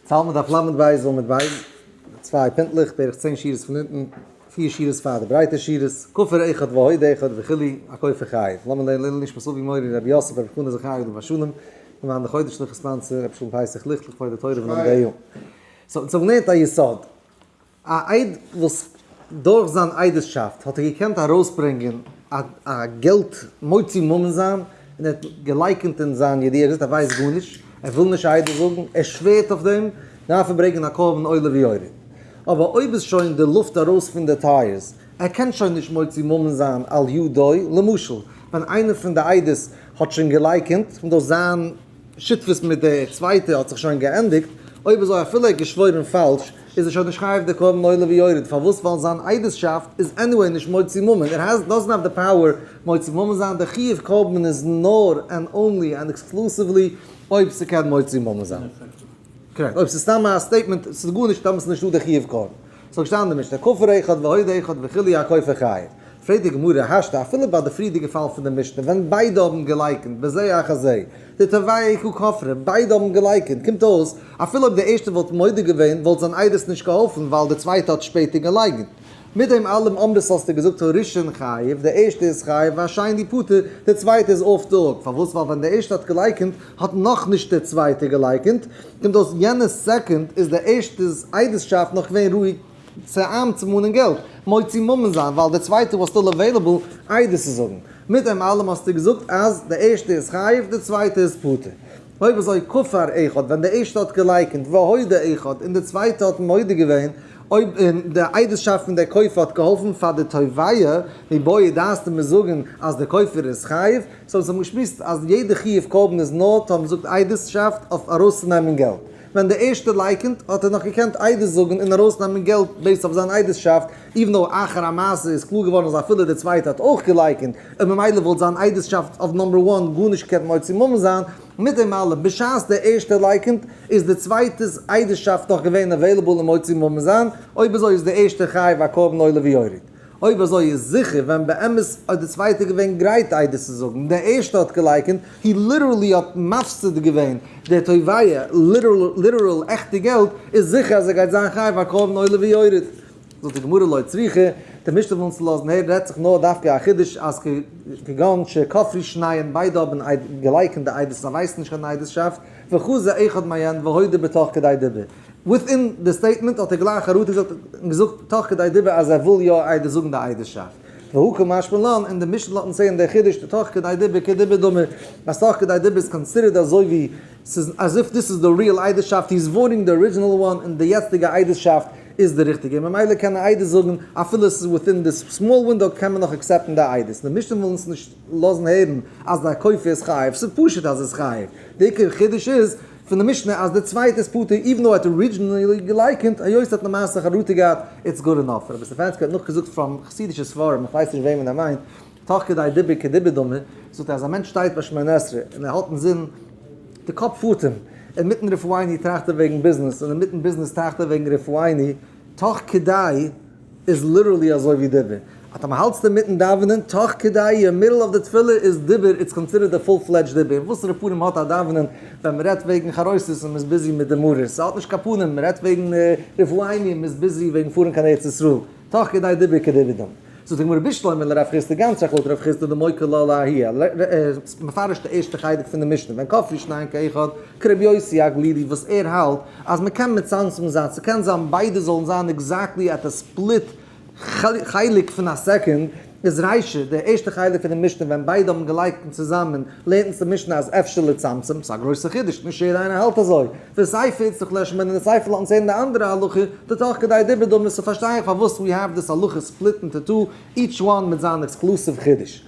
תלמוד דף ל' בית ז עמוד בית, צוויי פינטלעך, בערך צען שורות פון אונטן, פיר שורות פאר די ברייטע שורות, כופר אחד והוד אחד וכו', א כופר חייב. לאמיר לערנען לעילוי נשמת אבי מורי רבי יוסף רבי חנא זכרי' עליו השלום, און מיין די חודש'ליכע ספאנסער רבי שלום פייסיך ליכט לכבוד די תורה ונאמני ה. סאו אונז האבן געלערנט א יסוד. א איד וואס דורך זיין עדות'שאפט האט ער געקענט ארויסברענגען א געלט מוציא ממון זיין, און ער האט געלייקענט אין זיין ידיעה, ער האט געזאגט ער ווייסט גארנישט, ער וויל נישט א עדות זאגן, ער שווערט אויף דעם, דארף ער ברענגען א קרבן עולה ויורד. אבער אויב איז שוין די לופט ארויס פון די טייערס, ער קען שוין נישט מוציא ממון זיין על ידו, למשל ווען איינער פון די עדות האט שוין געלייקענט, דאס זיין. שותפות מיט די צווייטע האט זיך שוין געענדיגט, אויב אזוי אפילו ער האט געשוואוירן פאלש איז ער שוין נישט חייב די קרבן עולה ויורד, פארוואס? ווייל זיין עדות'שאפט איז עניוועי נישט מוציא ממון, ער האס דאזענט האוו די פאוער מוציא ממון זיין, די חיוב קרבן איז נאר ענד אנלי ענד עקסקלוסיוולי אויב ס'קען מוציא ממון זיין. קרעקט. אויב ס'איז סתם א סטעיטמענט, ס'איז גארנישט, דאן איז נישטא די חיוב קרבן. ס'האט געשטאנען אין די משנה כופר אחד והוד אחד וכו' א כופר חי'. פרעגט די גמרא, השתא, אפילו ביי די פריערדיגע פאל פון די משנה ווען ביידע האבן געלייקענט בזה אחר זה, די תובעי כ כופרים, ביידע האבן געלייקענט, קומט אויס אפילו אויב די ערשטע וואלט מודה געווען וואלט זיין עדות נישט געהאלפן ווייל די צווייטע האט שפעטער געלייקנט. מיט דעם אלעם אמרס האסטו געזאגט הראשון חייב, די ערשטע איז חייב והשני פטור, די צווייטע איז אויף די הוק, פארוואס ווייל ווען די ערשטע האט געלייקענט האט נאכנישט די צווייטע געלייקענט, און דאס יענע סעקונד איז דער ערשטער'ס עדות'שאפט נאך געווען רואיג צו איינצומאנען געלט, מוציא ממון זיין, ווייל דער צווייטער וואס סטיל עוועילעבל עדות צו זאגן. מיט דעם אלעם האסטו געזאגט אז דער ערשטער איז חייב, דער צווייטער איז פטור. אויב אזוי כופר אחד, ווען דער ערשטער האט געלייקענט והודה אחד און דער צווייטער האט מודה געווען, אויב און דער עדות'שאפט פון דער כופר האט געהאלפן פאר דער תובע, מבאי דעתנו מיר זאגן אז דער כופר איז חייב, סאו זיי האבן געשמועסט אז יעדע חיוב קרבן איז נאר טאמער מ'זאגט עדות'שאפט אויף ארויסצונעמען געלט. ווען דער ערשטער לייקענט האט ער נאך געקענט עדות זאגן און ארויסנעמען געלט בעיסד אויף זיין עדות'שאפט, איווען דאו אחר המעשה איז קלאר געווארן אז אפילו דער צווייטער האט אויך געלייקענט און ממילא וואלט זיין עדות'שאפט אויף נאמבער וואן גארנישט געקענט מוציא ממון זיין. מיט דעם אלעם, בשעת דער ערשטער לייקענט איז דער צווייטער'ס עדות'שאפט נאך געווען עוועילעבל און מוציא ממון זיין, אויב אזוי איז דער ערשטער חייב א קרבן עולה ויורד. אויב אזוי איז זיכער ווען באמת האט די צווייטע געווען גרייט עדות צו זאגן, דער ערשטע האט געלייקענט, הי ליטערלי האט מפסיד געווען דער תובע ליטערל עכטע געלט, איז זיכער אז ער גייט זיין חייב א קרבן עולה ויורד. זאגט די גמרא לא צריכה, די משנה וויל אונז לאזן הערן רעדט זיך נאר דווקא א חידוש אז כגון שכפרי שניהם ביידע האבן געלייקענט די עדות אז זיי ווייסן נישט קיין עדות'שאפט, וחזר אחד מעיין והודה בתוך כדי דיבר. וויטין די סטעיטמענט האט ער גלייך אראטעזאגט און געזאגט תוך כדי דיבור אז ער וויל יא איידער זאגן די עדות'שאפט. והוא כמשמע לן און די משנ ל האט אונז צעהן דער חידוש די תוך כדי דיבור כדיבור דומה אז תוך כדי דיבור איז קאנסידערט אזוי ווי ס'איז as if דיס איז די ריעל עדות'שאפט היז וואוטינג די ארידזשינעל וואן און די יעצטיגע עדות'שאפט איז די ריכטיגע און ממילא קען ער איידער זאגן אפילו ס'איז וויטין די סמאל ווינדאו קען מען נאך עקסעפטן די עדות. די משנ ל וויל אונז נישט לאזן הערן אז דער כופר איז חייב ס'איז פשוט אז ער איז חייב די עיקר חידוש איז פון די משנה אז די צווייטע איז פטור איווען דאו ער האט ארידזשינעלי געלייקענט היות ער האט למעשה חרטה געהאט איטס גוד אינאף רבי סטעפאנסקי האט נאכגעזאגט פראם חסידישע ספרים איך ווייס נישט וועמען ער מיינט תוך כדי דיבור כדיבור דומה זאגט ער אז א מענטש שטייט ביי שמונה עשרה און ער האלט אינזין די קאפ פארט אים אינמיטן רפואיני טראכט ער וועגן ביזנעס און אינמיטן ביזנעס טראכט ער וועגן רפואיני תוך כדי איז ליטערלי אזוי ווי דיבור, אז טאמער האלטסטו אינמיטן דאווענען, תוך כדי, אין מידל אוו די תפילה, איז דיבור, איטס קאנסידערט די פול פלעדזשד דיבור, און וואסערע פנים האט א דאווענען ווען מען רעדט וועגן חרוסת און מען איז ביזי מיט די מרור, ס'האט נישט קיין פנים, מען רעדט וועגן רפואה עיני און מען איז ביזי וועגן פארן קיין ארץ ישראל, תוך כדי דיבור כדברי דומ. זאגט די גמרא בשלמה לרב חיסדא גאנץ שייך לויט רב חיסדא דמוקא לא להי', מפרש די ערשטע חלק פון די משנה, ווען כף ישניים כאחד, כרבי יוסי הגלילי וואס ער האלט אז מען קען מצמצם זיין, ס'קען זיין ביידע זאלן זיין עקזעקטלי אט א ספליט חלק פון א סעקונד, איז ריישא, די ערשטע חלק פון די משנה ווען ביידע האבן געלייגט און צוזאמען, לערנט אונז די משנה אז אפשר לצמצם, ס'איז א גרויסע חידוש, נישט יעדע איינער האלט אזוי, ווי סייפער איז צו כלעשמען און סייפער לאזן צו הערן די אנדערע הלכה, די תוך כדי דיבור דא מוז איך פארשטיין פארוואס ווי האב דיס הלכה ספליט אינטו טו, איטש וואן מיט זיין עקסקלוסיוו חידוש.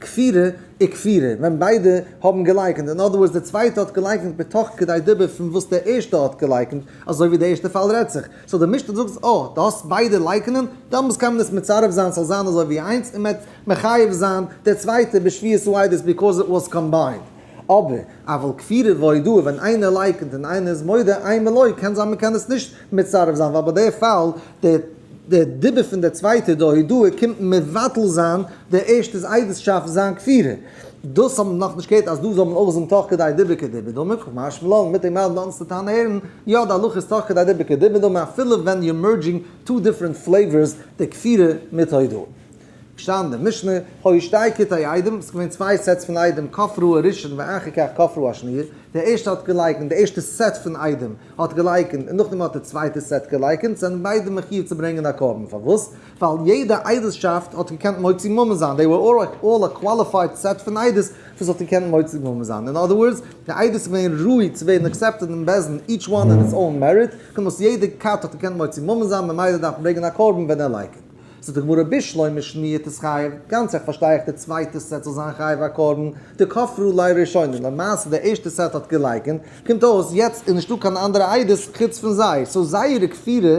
כפירה איז כפירה ווען ביידע האבן געלייקענט, אין אדער ווארדס דער צווייטער האט געלייקענט מתוך כדי דבר פון וואס דער ערשטער האט געלייקענט, אזוי ווי דער ערשטער פאל רעדט זיך, סאו דער משפט זאגט אז אויב דו האסט ביידע לייקענען, דאמאלס קען מען עס מצרף זיין ס'זאל זיין אזוי ווי איינס און מ'עט מחייב זיין דער צווייטער בשביעת רעדות ביקאוז איט וואס קאמביינד. אבער אבל כפירה והודאה ווען איינער לייקענט און איינער איז מודה, איין מלא, קען זיין מ'קען עס נישט מצרף זיין ווייל ביי דער פאל דער דער דיבור פון דער צווייטער די הודעה קומט מבטל זיין דער ערשטער'ס עדות'שאפט זיין כפירה. דאס האבן מיר נאך נישט געהערט אז דא זאל מען אויך זאגן תוך כדי דיבור כדיבור דומי, כ ק מהר ש מלאנד מיט אים מיילן די אנדערסטע טענה הערן, יא די הלכה איז תוך כדי דיבור כדיבור דומי אפילו ווען יו אר מערדזשינג טו דיפרענט פלעיווארס די כפירה מיט הודאה. געשטאנען די משנה, הוי שתי כתאי איידעם, ס'איז געווען צוויי סעטס פון איידעם, כף רו הראשון ואחר כך כף רו השני', דער ערשטער האט געלייקנט, דער ערשטער סעט פון איידעם האט געלייקנט און נאכדעם האט דער צווייטער סעט געלייקנט, זענען ביידע מחיוב צו ברענגען א קרבן, פארוואס? ווייל יעדע איידעלשאפט האט געקענט מוציא ממון זיין, דעי ווער אלל א קוואליפייד סעט פון עדות וואס האט געקענט מוציא ממון זיין, אין אדער ווארדס, די עדות איז געווען ראוי צו ווערן אקסעפטעד אין בית דין, איטש וואן אן איטס אוין מעריט, כמות יעדע כת האט געקענט מוציא ממון זיין, ממילא דארף מען ברענגען א קרבן ווען ער לייקנט. זאגט די גמרא בשלא משמיעתא איז חייב, גאנץ עכט פארשטיי איך די צווייטע סעט זאל זיין חייב א קרבן, דכפרו ליה ראשונה, למעשה די ערשטע סעט האט געלייקענט, קומט אויס יעצט איז נישטא קיין אנדערע עדות חוץ פון זיי, סאו זייערע כפירה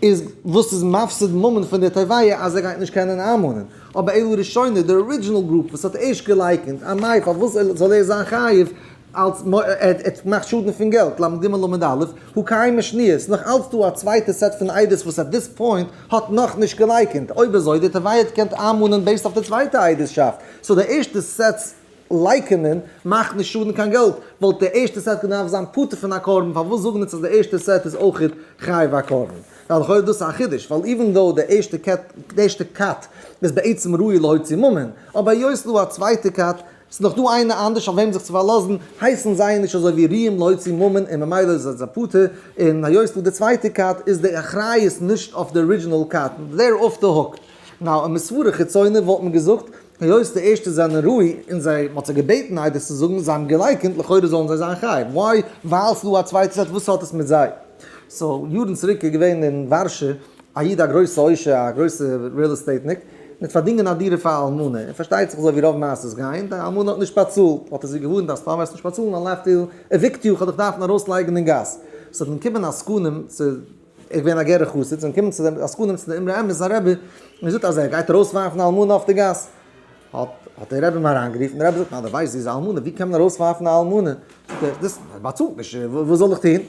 איז וואס איז מפסיד ממון פון די טבעיה אז ער גייט נישט קענען איינמאנען, אבער אלו ראשונה די ארידזשינעל גרופ וואס האט ערשט געלייקענט, א מאי פארוואס זאל ער זיין חייב? אלס מ א ער האט געמאכט שאדן פון געלט, למ ג למד א, הוא קיים משניות, נאך אלס דא א צווייטע סעט פון עדות וואס עט דיס פוינט האט נאך נישט געלייקענט, אויב אזוי די תבעית קענט איינמאנען בעיסד אויף די צווייטע עדות'שאפט, סאו די ערשטע סעט'ס לייקענען מאכט נישט שאדן קיין געלט, וואלט די ערשטע סעט געדארפט זיין פטור פון א קרבן, פארוואס זאגן אונז אז די ערשטע סעט איז אויכעט חייב א קרבן? ווייל לכאורה איז דאס א חידוש, ווייל איווען דאו די ערשטע קעט די ערשטע כת איז בעצם ראוי להוציא ממון, אבער היות ס'דא א צווייטע כת ס'איז דאך דא איינער אנדערש אויף וועם זיך צו פארלאזן, הייסן זיי נישט אזוי ווי ריעם להוציא ממון און ממילא איז ער זיי פטור, און היות וואס די צווייטע קט איז די אחריות נישט אויף די ארידזשינעל קט, דער אף די הוק. נאו און מסברא חיצונה וואלט מען געזאגט, היות די ערשטע זענען ראוי און זיי, מ'האט זיי געבעטן איידער צו זאגן, זיי האבן געלייקענט, לכאורה זאלן זיי זיין חייב, וויי? ווייל ס'איז דא א צווייטע קט וואס האט עס מיט זיי. סאו יארן צוריק איז געווען אין ווארשע א איד א גרויסע עושר א גרויסע ריעל עסטעיטניק מיט פארדינגען א דירה פאר א אלמנה און פארשטייט זיך אזוי ווי רוב מעשות גיין די אלמנה האט נישט באצאלט האט ער זי געווארנט אז פאר וועסט נישט באצאלן א לייף דיל עוויקט יו כ'האב דיך דארפן ארויס לייגן אין גאס ס'האט מען קומען עסקנים צו ער געווען א גערע חסיד זענען קומען צו די עסקנים צו די אמרי אמת זיין רבי און געזאגט אז ער גייט ארויס ווארפן א אלמנה אויף די גאס האט האט די רבי אים אריין גערופן די רבי זאגט ניין די ווייסט זי איז א אלמנה ווי קען מען ארויס ווארפן א אלמנה זאגט ער דאס באצאלט נישט וואס זאל איך טון.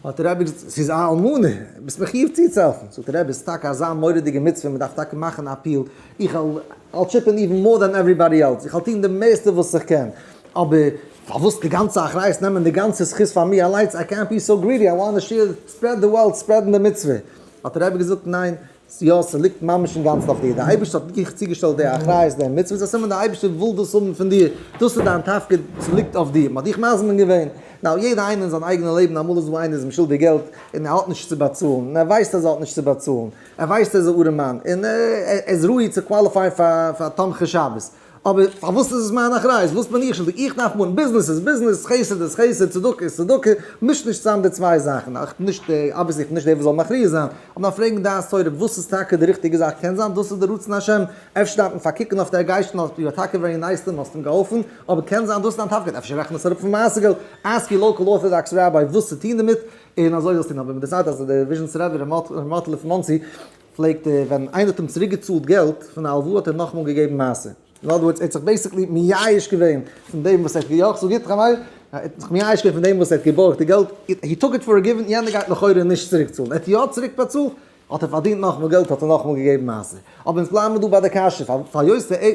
האט דער רבי געזאגט, ס'איז א אלמנה, ביסט מחיוב צוצוהעלפן. זאגט דער רבי, ס'איז טאקע אזא מורא'דיגע מצוה, מ'דארף טאקע מאכן א אפיעל, איך וועל, I'll chip in even more than everybody else, איך וועל טון די מערסטע וואס איך קען, אבער פארוואס די גאנצע אחריות נעמען די גאנצע זכות פאר מיר אליינס, I can't be so greedy, I wanna share, spread the wealth, ספרעדן די מצוה. האט דער רבי געזאגט, ניין, יא, ס'ליגט ממש אינגאנצן אויף דיר, דער אייבערשטער האט דיך צוגעשטעלט די אחריות די מצוה איז א סימן דער אייבערשטער וויל דאס האבן פון דיר, דאס איז דיין תפקיד, ס'ליגט אויף דיר, מ'האט דיך מזמין געווען, נאו יעדער איינער אין זיין אייגענע לעבן אמאל איז דא איינער איז אים שולדיג געלט און ער האט נישט צו באצאלן און ער ווייסט אז ער האט נישט צו באצאלן, ער ווייסט ער איז א ארעמאן און ער איז ראוי צו קוואליפייען פאר תומכי שבת. אבער פארוואס איז עס מיין אחריות? וואס בין איך שולדיג? איך דארף מאכן, ביזנעס איז ביזנעס, חסד איז חסד, צדקה איז צדקה, מיש נישט צוזאם די צוויי זאכן. איך בין נישט דער, אבוויעסלי איך בין נישט דער וואס זאל מכריע זיין, אבער דארף פרעגן דעת תורה וואס איז טאקע די ריכטיגע זאך, קען זיין דאס איז די רצון השם, אפשר דארף מען פארקוקן אויף דער גייסטן, האסט יו אר טאקע ווערי נייס טו אים, האסט אים געהאלפן, אבער קען זיין דאס איז דיין תפקיד, אפשר רעכן עס אראפ פון מעשה געלט, אסק יור לאקעל ארטאדאקס ראביי וואס צו טון דערמיט, און אזוי זאלסטו טון, אבער מען דערציילט אז דער וויזשניצער רבי ר' מאטעלע פון מאנסי, פלעגט ער ווען איינער האט אים צוריק געצאלט געלט פון א הלוואה האט ער נאכאמאל געגעבן מעשר, אין אדער ווארדס ער האט זיך בעיסיקלי מייאש געווען פון דעם וואס ער האט געיאגט זאג איתך מאיר, ער האט זיך מייאש געווען פון דעם וואס ער האט געבארגט די געלט, הי טאק איט פאר גיווען, יענער גייט לכאורה נישט צוריק צאלן, ער האט יא צוריק באצאלט, האט ער פארדינט נאכאמאל געלט האט ער נאכאמאל געגעבן מעשר, אבער אונז בלייבן דא ביי די קשיא פאר היות די.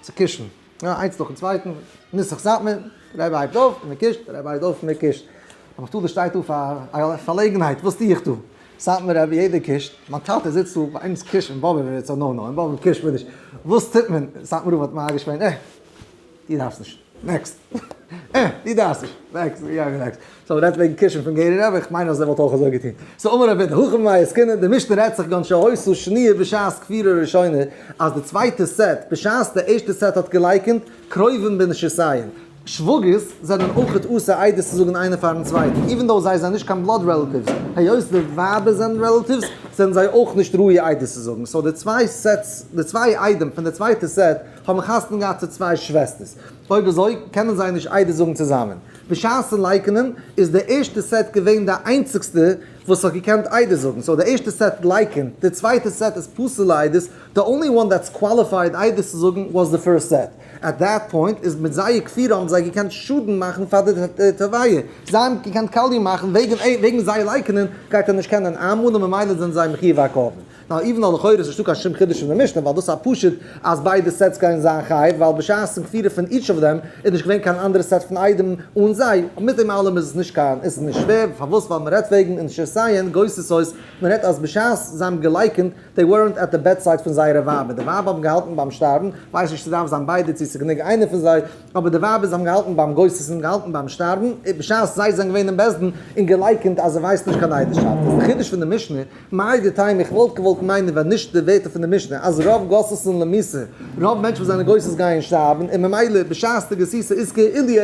צו קישן, איינס נאכן צווייטן, נוסח סאטמאר, דער רבי הייבט אויף און ער קישט, דער רבי הייבט אויף און ער קישט. אבער כ'טוה דא שטייט דא פאר א פארלעגנהייט, וואס טוה איך דא? סאטמאר רבי יעדער קישט, מיין טאטע זיצט דא, ביי אונז קישט אין באבוב איז עס א נאו נאו, אין באבוב קישט מען נישט, וואס טוט מען? סאטמאר רב האט מרגיש געווען, אה, דו דארפסט נישט. נעקסט. אה, די דארפסט נישט. נעקסט, יא נעקסט. סאו רעדט וועגן קישן פון גערער רב, איך מיין אז ער וואלט אויך אזוי געטון. סאו אמר רב ווידער, הכה מאי עסקינן, די משנה רעדט זיך גאנץ שהותו שניה בשעת כפירה ראשונה, אז די צווייטע סעט, בשעת די ערשטע סעט האט געלייקענט, קרובים בין שסייען, שוואגערס, זענען אויך אסור עדות צו זאגן איינער פארן צווייטן, איווען דאו זיי זענען נישט קיין בלאד רעלאטיווס, היות די ווייבער זענען רעלאטיווס, זענען זיי אויך נישט ראוי עדות צו זאגן, סאו די צוויי סעטס, די צוויי עדים פון די צווייטע סעט, האבן חתונה געהאט צו צוויי שוועסטערס? אויב אזוי קענען זיי נישט איידער זאגן צוזאמען. בשעת'ן לייקענען איז די ערשטע סעט געווען די איינציגסטע וואס האט געקענט איידער זאגן, סאו די ערשטע סעט לייקענט, די צווייטע סעט איז פסול'ע איידערס, די אנלי וואן דעטס קוואליפייד איידער צו זאגן וואס די פירסט סעט. עט דעט פוינט איז מיט זייער כפירה האבן זיי געקענט שאדן מאכן פאר די טערוויע. זיי האבן געקענט קאליע מאכן וועגן אים, וועגן זיי לייקענען גייט ער נישט קענען איינמאנען ממילא זענען זיי מחיוב הקרבן. נאו איווען דאו לכאורה איז נישטא קיין שום חידוש פון די משנה ווייל דאס איז א פשט אז ביידע סעטס גייען זיין חייב ווייל בשעת'ן כפירה פון איטש אוו דעם איז נישט געווען קיין אנדערע סעט פון איידים אן זיי, מיט דעם אלעם איז עס נישט קיין איז עס נישט שווער פארוואס ווייל מען רעדט וועגן אין שעשאיען גוסס הויז מען רעדט אז בשעת זיי האבן געלייקענט דעי ווערענט עט די בעד סייד פון זייערע ווייבער די ווייבער האבן געהאלטן ביים שטארבן ווייס נישט צו דארף זיין ביידע צו ס'איז גענוג איינע פון זיי אבער די ווייבער זיי האבן געהאלטן ביים גוסס'ן געהאלטן ביים שטארבן בשעת זיי זענען געווען אין בית דין און געלייקענט אז ער ווייסט נישט קיין עדות שארט איז די חידוש פון די משנה מאי דטעמא, איך וואלט געוואלט מיינען ווען נישט די ווערטער פון די משנה אז רוב גוסס'ן און למעשה רוב מענטשן וואס זענען גוסס גייען שטארבן און ממילא בשעת די גסיסה איז כאילו ער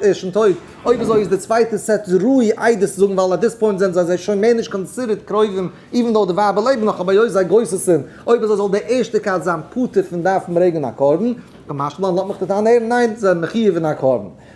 איז שוין טויט, אויב אזוי איז די צווייטע סעט ראוי איידער צו זאגן ווייל עט דיס פוינט זענען זיי שוין מער נישט קאנסידערט קרובים איווען דאו די ווייבער לעבן נאך אבער היות זיי גוסס'ן אויב אזוי זאל דער ערשטער כת זיין פטור פון דארפן ברענגען א קרבן, כמשמע לאמעך די טענה הערן, ניין זיי זענען מחיוב אין א קרבן.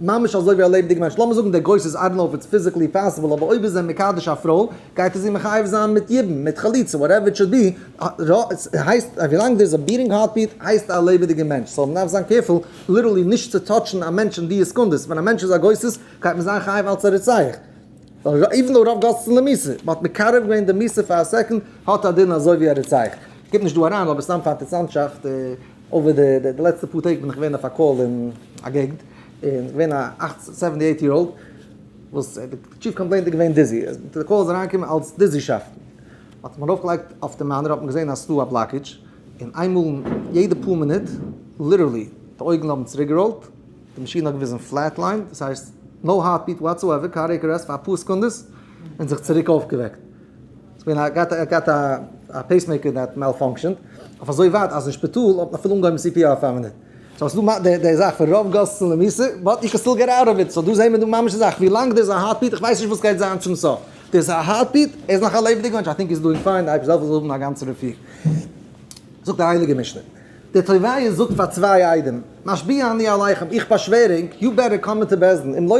ממש אזוי ווי א לעבעדיגע מענטש, לאמיר זאגן דער גרויס איז, איי דאנט נאו איף איטס פיזיקלי פאסיבל, אבער אויב איז ער מקדש א פרוי, גייט ער זי מחייב זיין מיט יבום, מיט חליצה, וואטעווער איט שוד בי, הייסט אז ווילאנג דער איז א ביטינג הארט ביט, הייסט ער א לעבעדיגער מענטש, סאו מ'דארף זיין קעירפול ליטערלי נישט צו טאטשן א מענטש אין דיע סעקונדעס, ווען א מענטש איז א גוסס, גייט מען זיין חייב אלץ א רוצח, איווען דאו רוב גוססן למיסה, מ'האט מקרב געווען די מיסה פאר א סעקאנד, האט א דין אזוי ווי א רוצח, כ'גיב נישט דא אריין, אבער סתם פאר אינטערסאנטשאפט. אבער די די לעצטע פאר טעג בין איך געווען אויף א קאל אין א געגנט, און געווען א אַכט סעווענטי עיט יער אולד, וואס די טשיף קאמפלעינט איז געווען דיזי, די קאל איז אריינגעקומען אלס דיזישאפטן, האט מען ארויף געלייגט אויף די מאנער האט מען געזען אז ס'דא א בלאקידזש, און איינמאל יעדע פאר מינוט, ליטערלי, די אויגן האבן צוריק געראולט, די מאשין האט געוויזן פלעט ליין, דאס הייסט נאו הארט ביעט וואטסאועווער, קארדיעק ארעסט פאר אפאר סעקונדעס, און זיך צוריק אויפגעוועקט. ס'געווען א גאט ער האט געהאט א פעיסמעיקער דער האט מאלפאנקשענט אויף אזוי ווייט אז אין שפיטאל האט מען אפילו אנגעהויבן סי פי אר פאר מינוט סאו ס'איז דא די די זאך פון רוב גאסן למעשה באט יו קען סטיל געט אוט אוו איט סאו דא זעהן מיר דא ממש די זאך ווילאנג דער איז א הארטביט איך ווייס נישט וואס גייט זיין צום סוף דער איז א הארטביט ער איז נאך א לעבעדיגע מענטש איי טינק איז דואינג פיין די אייבישטער זאל זאל האבן א גאנצע רפואה זאגט די הייליגע משנה. דער תובע זאגט פאר צוויי עדים, משביע אני עליכם, איך באשווער ענק, יו בעטער קאם מיט די בית דין, אם לא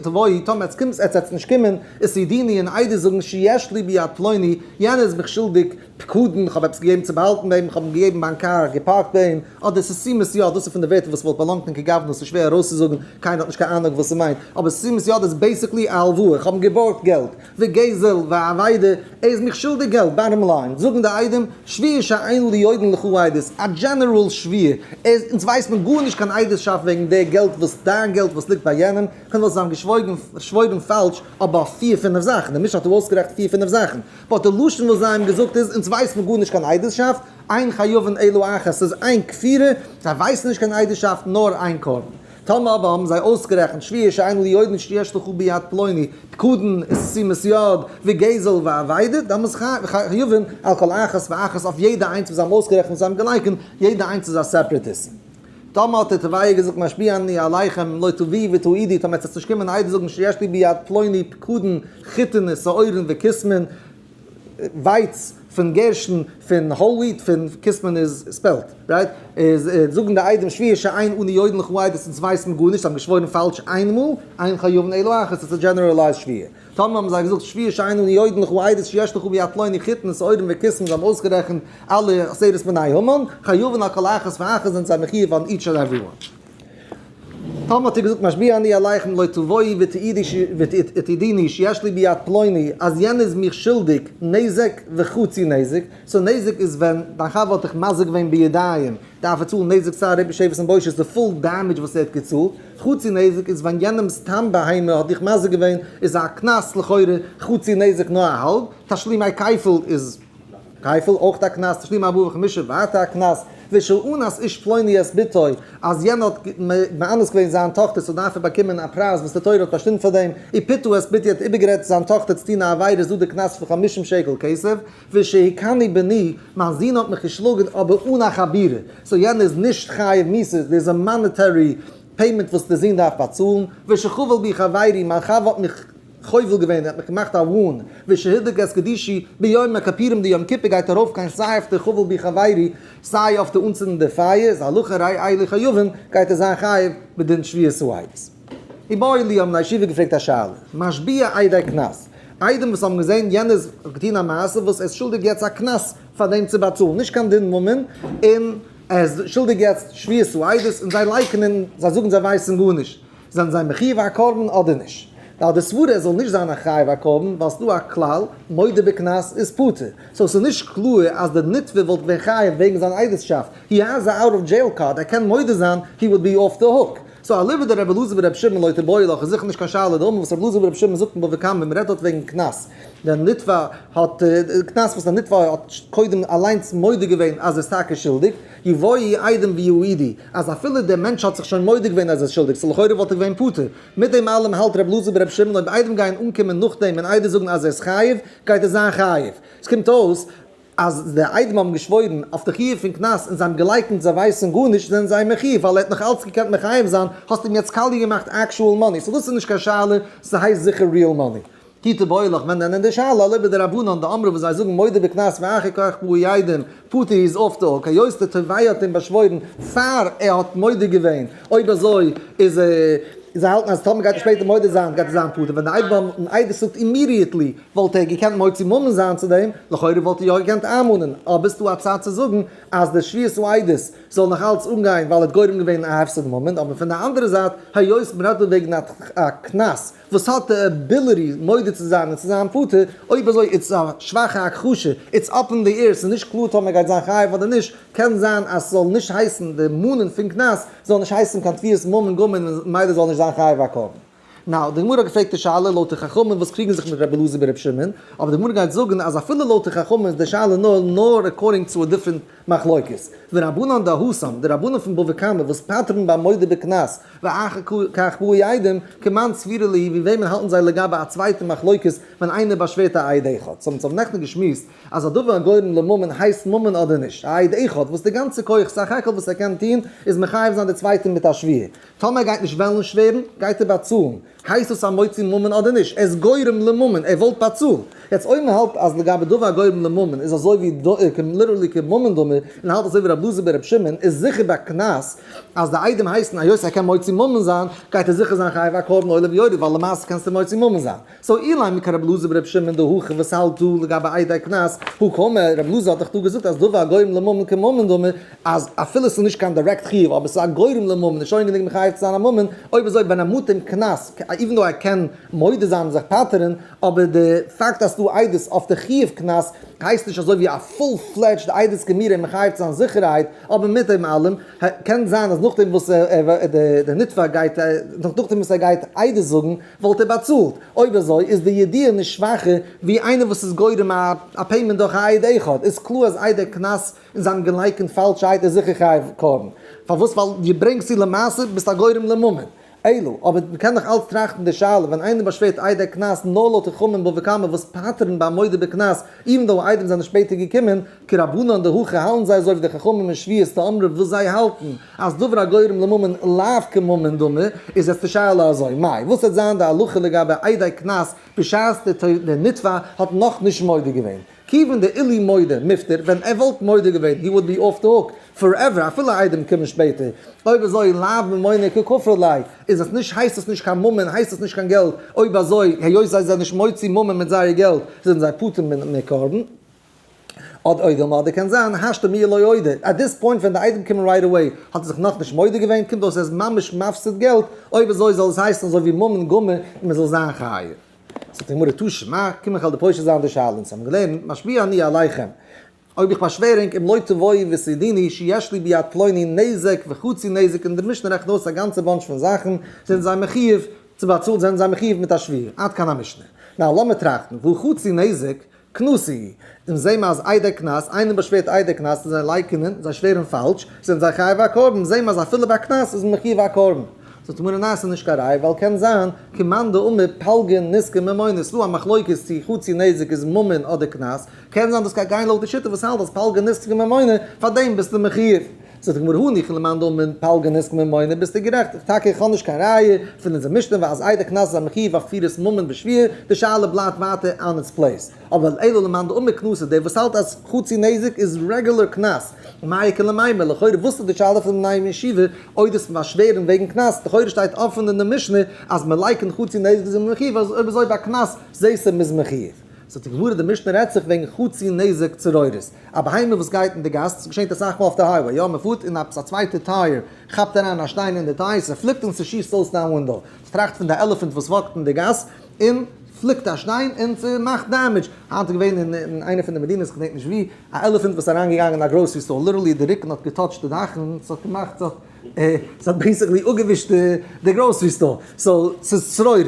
תבואי, טאמער עטס קומטס עטס עטס נישט קומען, איז צו דיני און עדות זאגן שיש לי ביד פלוני, יענער איז מיך שולדיג פקדון, איך האב עפעס געגעבן צו באהאלטן ביי אים, איך האב אים געגעבן מיין קאר, געפארקט ביי אים, אדער ס'איז סימס יד, דאס איז פון די ווערטער וואס וואלט באלאנגט אין כגוונא, ס'איז שווער ארויסצוזאגן, קיינער האט נישט קיין אנונג וואס ס'מיינט, אבער סימס יד איז בעיסיקלי א הלוואה, איך האב אים געבארגט געלט. ווי גזל ווי אבידה, ער איז מיך שולדיג געלט, באטטעם ליין, זאגן די עדים, שוויר שאין לי עדין לכו עדות, א דזשענעראל שוויר, ער איז, אונז ווייסט מען גארנישט קיין עדות'שאפט וועגן די געלט וואס, דיין געלט וואס ליגט ביי יענעם, קען וואס זיין געשוואויגן, שוואוירן פאלש, אבער אויף פיר פינעף זאכן, די משנה האט ארויסגערעכנט פיר פינעף זאכן, באט די לשון וואס זיי האבן געזאגט איז, אונז ווייסט מען גארנישט קיין עדות'שאפט, אין חיובין אלא אחת, ס'איז איין כפירה, זיי ווייסן נישט קיין עדות'שאפט נאר איין קרבן. טאמער אבער האבן זיי אויסגערעכנט שביעי שאין ליודעין את שתי אשתכו ביד פלוני, פקדון, שימת יד, וגזל ואבידה, דאן מוז חיובין על כל אחת ואחת אויף יעדע איינס וואס זיי האבן אויסגערעכנט וואס זיי האבן געלייקענט, יעדע איינס איז א סעפרעט איסור. טאמער האט ער טבעי געזאגט משפיע אני עליכם לא תביאי ותעידי, טאמער עטס עטס נישט קומען איידער זאגן שתי אשתי ביד פלוני, פקדון, חיתון, שעורין, וקיסמין, ווייץ פון גערשן פון האול וויט פון כוס מען איז ספעלט רייט איז זאגן די איידים שביעי שעיין אן יוידן לכו עידות אונז ווייסן גארנישט זיי האבן געשוואוירן פאלש איינמאל איין חיובן אלא אחת עס איז א דזשענערעלייזד שביעי טאמער האבן זיי געזאגט שביעי שעיין אן יוידן לכו עידות שיש לכו ביד פלוני חיתן און סוערים וכוס מען זיי האבן אויסגערעכנט אלע עשרת בני המן חיובן על כל אחת ואחת זענען זיי מחיוב אן איטש ענד עווערי וואן. טאמער האט איר געזאגט משביע אני עליכם לא תבואי ותעידיני שיש לי ביד פלוני אז יענער איז מיך שולדיג נזק וחצי נזק, סאו נזק איז ווען דיין חבר האט דיך מזיק געווען בידיים דארף ער צאלן נזק צער ריפוי שבר און בושה די פול דעמעדזש וואס ער האט געצאלט, חצי נזק איז ווען יענעם סתם בהמה האט דיך מזיק געווען איז א קנס לכאורה חצי נזק נאר א האלב, תשלימי כפל איז. כפל אויך א קנס תשלים אברך משא ואתה א קנס ושל אנס איש פלוני את בתו אז יענער האט מאנס געווען זיין טאכטער סאו דארף ער באקומען א פרייז וואס די תורה האט באשטימט פאר דעם אי פיתו את בתי האט איבערגערעדט זיין טאכטער צו טון א עבירה איז דא די קנס פון חמישים שקל כסף ושל היכני בני מיין זון האט מיך געשלאגן אבער אן א חבירה סאו יענער איז נישט חייב מיסות דאס איז א מאנעטערי פעימענט וואס די זון דארף באצאלן ושל חבל בי חברי מיין חבר האט מיך חובל געווען, ער האט מיך געמאכט א וואן וועי שהידק את קדישי, ביום הכפירים די יום כיפור גייט ארויף קיין סיי אויף די חובל בי חברי, סיי אויף די אנצינדן די פייער, איז הלכה ראי איילי חיובים גייט ער זיין חייב בדין שביעית סועדות. איבעאיל די האבן א ישיבה געפרעגט א שאלה. משביע איידעי קנס. איידעם וואס האבן געזען יענער איז געטון א מעשה וואס ער איז שולדיג יעצט א קנס פאר דעם צו באצאלן, נישט קיין דין ממון, און ער איז שולדיג יעצט שביעית סועדות, און זיי לייקענען, זיי זאגן זיי ווייסן גארנישט. זענען זיי מחיוב א קרבן אדער נישט? ווייל די סברא ער זאל נישט זיין א חייב א קרבן ווייל ס'איז דא א כלל מודה בקנס איז פטור סאו ס'איז נישט קלאר אז די נתבע וואלט געווען חייב וועגן זיין עדות'שאפט הי העז א אוט אוו דזשעיל קארד ער קען מודה זיין הי וואלד בי אף די הוק סאו אליבא דרבי אלעזר ורבי שמעון לא תבעו לך איז זיכער נישט קיין שאלה די אומן וואס רבי אלעזר ורבי שמעון זאגט אין בבא קמא ווען מ'רעדט דארט וועגן קנס ווען נתבע האט קנס וואס די נתבע האט קודם אליינס מודה געווען אז ער איז טאקע שולדיג. אי ואי איידעם ווי הוא אידי, אז אפילו דער מענטש האט זיך שוין מודה געווען אז ער איז שולדיג, סא לכאורה וואלט ער געווען פטור. מיט דעם אלעם האלט רב לוזי ברב שמעון אויב איידעם גייען אנקומען נאכדעם און איידעם זאגן אז ער איז חייב, גייט ער זיין חייב. עס קומט אויס אז די איידעם האבן געשוואוירן אויף די חיוב פון קנס און זיי האבן געלייקנט זיי ווייסן גארנישט זענען זיי מחיוב ווייל ער האט נאך אלץ געקענט מחייב זיין, האסט אים יעצט קאליע געמאכט עקשועל מאני, סא דאס איז נישט קיין שאלה, ס'הייסט זיכער ריעל מאני. טיט די בויעלעך ווען נענען די שאלה אלי' בי די רבנן דאמרו וואס זיי זאגן מודה בקנס ואחר כך פרו ידים פטור איז אויף די אוק היות די תובע האט אים באשוואוירן פאר ער האט מודה געווען אויב אזוי איז זיי האלטן אז טאמער גייט ער שפעטער מודה זיין גייט ער זיין פטור ווען די איידעם האבן עדות זאגט אימידיעטלי וואלט ער געקענט מוציא מאמין זיין צו דעם לכאורה וואלט ער יא געקענט איינמאנען אבער ס'דא א צד צו זאגן אז די שביעת העדות זאל נאך אלץ אנגיין ווייל ער האט גורם געווען א הפסד ממון אבער פון די אנדערע זייט היות מ'רעדט דא וועגן א קנס וואס האט די עביליטי מודה צו זיין און צו זיין פטור, אויב אזוי איז עס א שוואכע הכחשה, איטס אפ אין די עיר, ס'איז נישט קלאר טאמער גייט זיין חייב אדער נישט, קען זיין אז ס'זאל נישט הייסן די מנין פון קנס זאל נישט הייסן קיין תביעת ממון גמור און מילא זאל נישט זיין חייב הקרבן. נאו, די גמרא האט געפרעגט די שאלה לויט די חכמים וואס קריגן זיך מיט רבי אלעזר ברבי שמעון, אבער די גמרא גייט זאגן אז אפילו לויט די חכמים איז די שאלה נאר נאר עקארדינג צו א דיפרענט מחלוקת, ורבנן דהוסם, די רבנים פון בבא קמא וואס פטר'ן ביים מודה בקנס, ואחר כך באו העדים, כמאן סבירא ליהי, ווי וועמען האלטן זיי לגבי א צווייטע מחלוקת ווען איינער באשווערט א עד אחד, ס'האבן זיי נעכטן געשמועסט אז א דבר הגורם לממון הייסט ממון אדער נישט, א עד אחד וואס די גאנצע כח סך הכל וואס ער קען טון איז מחייב זיין די צווייטע מיט א שווייה, טאמער ער גייט נישט וועלן שווערן גייט ער באצאלן, הייסט דאס א מוציא ממון אדער נישט? ער איז גורם לממון, ער וואלט באצאלט. יעצט אויב מען האלט אז לגבי דבר הגורם לממון איז אזוי ווי דא ער קען ליטערלי קען ממון דאמר און האלט אזוי ווי רב לוזי בן ר' שמעון איז זיכער ביי קנס אז די איידים הייסן היות ער קען מוציא ממון זיין גייט ער זיכער זיין חייב א קרבן עולה ויורד ווייל למעשה קענסטו מוציא ממון זיין סאו אילאי מקח רב לוזי בן ר' שמעון דא הכי וואס האלט דא לגבי איידי קנס הוא כומר רב לוזי האט דאך דא געזאגט אז דבר הגורם לממון קען ממון דאמר אז אפילו עס איז נישט קיין דירעקט חיוב אבער עס איז א גורם לממון איז שוין גענוג מחייב צו זיין א ממון, אויב אזוי ווען ער מאט אים קנס, איווען דאו ער קען מודה זיין און זיך פטר'ן, אבער די פאקט אז ס'דא עדות אויף די חיוב קנס הייסט נישט אזוי ווי א פול פלעדזשד עדות געמיר אים מחייב צו זיין זיכערהייט, אבער מיט דעם אלעם קען זיין אז נאכדעם וואס די נתבע גייט נאכדעם וואס ער גייט עדות זאגן וואלט ער באצאלט, אויב אזוי איז די ידיעה נישט שוואכער ווי איינער וואס איז גורם א פעימענט דורך א עד אחד, איז קלאר אז איידער קנס און זיי האבן געלייקענט פאלשע הייטע זיכער חייב קארן, פארוואס ווייל דו ברענגסט צו למעשה ביסט א גורם לממון אלו, אבער מען קען דאך אלץ טראכטן די שאלה ווען איינער באשווערט איידער קנס נאר לויט חכמים בבא קמא וואס פטר'ן ביי א מודה בקנס איווען דאו איידעם זענען שפעטער געקומען כרבנן דהכי האלטן זיי אזוי ווי די חכמים אין שביעות תאמרו וואס זיי האלטן אז דבר הגורם לממון לאו כממון דמי איז יעצט די שאלה אזוי מאי וואס וועט זיין די הלכה לגבי איידער קנס בשעת דער נתבע האט נאכנישט מודה געווען כיוון די עילוי מודה מפטור, ווען ער וואלט מודה געווען he would be off the hook forever אפילו איידעם קומען שפעטער, אויב אזוי לאו ממונין ככפר ליה, איז עס נישט הייסט עס נישט קיין ממון הייסט עס נישט קיין געלט, אויב אזוי היות זיי זענען נישט מוציא ממון מיט זייער געלט זענען זיי פטור מקרבן, אדער אוידער מודה קען זיין השתא מיה לא אוידער at this point ווען די איידעם קומען רייט אוועי האט ער זיך נאכנישט מודה געווען קומט אויס ער איז ממש מפסיד געלט, אויב אזוי זאל עס הייסן אזוי ווי ממון גמור און מען זאל זיין חייב. זאגט די גמרא תשע מ, קום איך על די פושע זיין די שאלה, אונז האבן געלערנט משפיע אני עליכם, אויב איך באשווער ענק אם לא תבואי ותודיני שיש לי ביד פלוני נזק וחצי נזק און די משנה רעכנט אויס א גאנצע באנטש פון זאכן, זענען זיי מחיוב צו באצאלן זענען זיי מחיוב מיט א שוויו, עד כאן המשנה. נאר לאמיר טראכטן, וואו חצי נזק? קנסי, און זעהן מיר אז איידער קנס, איינער באשווערט איידער קנס צו זיי לייקענען, זיי שווערן פאלש, זענען זיי חייב א קרבן, זעהן מיר אז אפילו ביי קנס איז מען מחיוב א קרבן. זאגט מרן ניין ס'איז נישט קיין ראיה ווייל קען זיין כי מאן דאמר פלגין נזקין ממון עס איז דא א מחלוקת צי חצי נזק איז ממון אדער קנס, קען זיין דאס קען גיין לויט די שיטה וואס האלט אז פלגין נזקין ממון פאר דעם ביסטו מחיוב. זאגט די גמרא הני כ למאן דאמר אין פלגא נזקין ממונין, ביסטו גערעכט, איך טאקע איך האב נישט קיין ראיה פון אונזער משנה ווי אז איידער קנס איז א מחיוב אויף כפירת ממון בשבועה, די שאלה בלייבט ווייטער אן איטס פלעיס, אבער אלא למאן דאמר קנסות דער וואס האלט אז חצי נזק איז רעגולער קנס, מאי קא למאי, לכאורה וואס איז די שאלה פון בני הישיבה אויב דאס פון באשווערן וועגן קנס, לכאורה שטייט אפען אין די משנה אז מען לייקענט חצי נזק איז אים מחיוב אז אויב איז אויב א קנס זעהסע מען איז מחיוב. ס'האט זיך געווארעט די משנה רעדט זיך וועגן חצי נזק צרורות, א בהמה וואס גייט אין די גאס, עס געשעהט אסאך מאל אויף די הייוועי, יא מען פארט און עפעס א צווייטע טייער כאפט אריין א שטיין אין די טייער, ס'פליקט און ס'שיסט אויס דיין ווינדאו, ס'טראכט פון די עלעפענט וואס וואקט אין די גאס און פליקט א שטיין און ס'מאכט דעמעדזש, היינט איז געווען אין אין איינע פון די מדינות כ'דענק נישט ווי, א עלעפענט וואס איז אריינגעגאנגען אין א גראסערי סטאר, ליטערלי די רוקן האט געטאטשט די דאך און ס'האט געמאכט ס'האט. עס האט בעיסיקלי אפגעווישט די גראסערי סטאר, סאו ס'איז שרורות,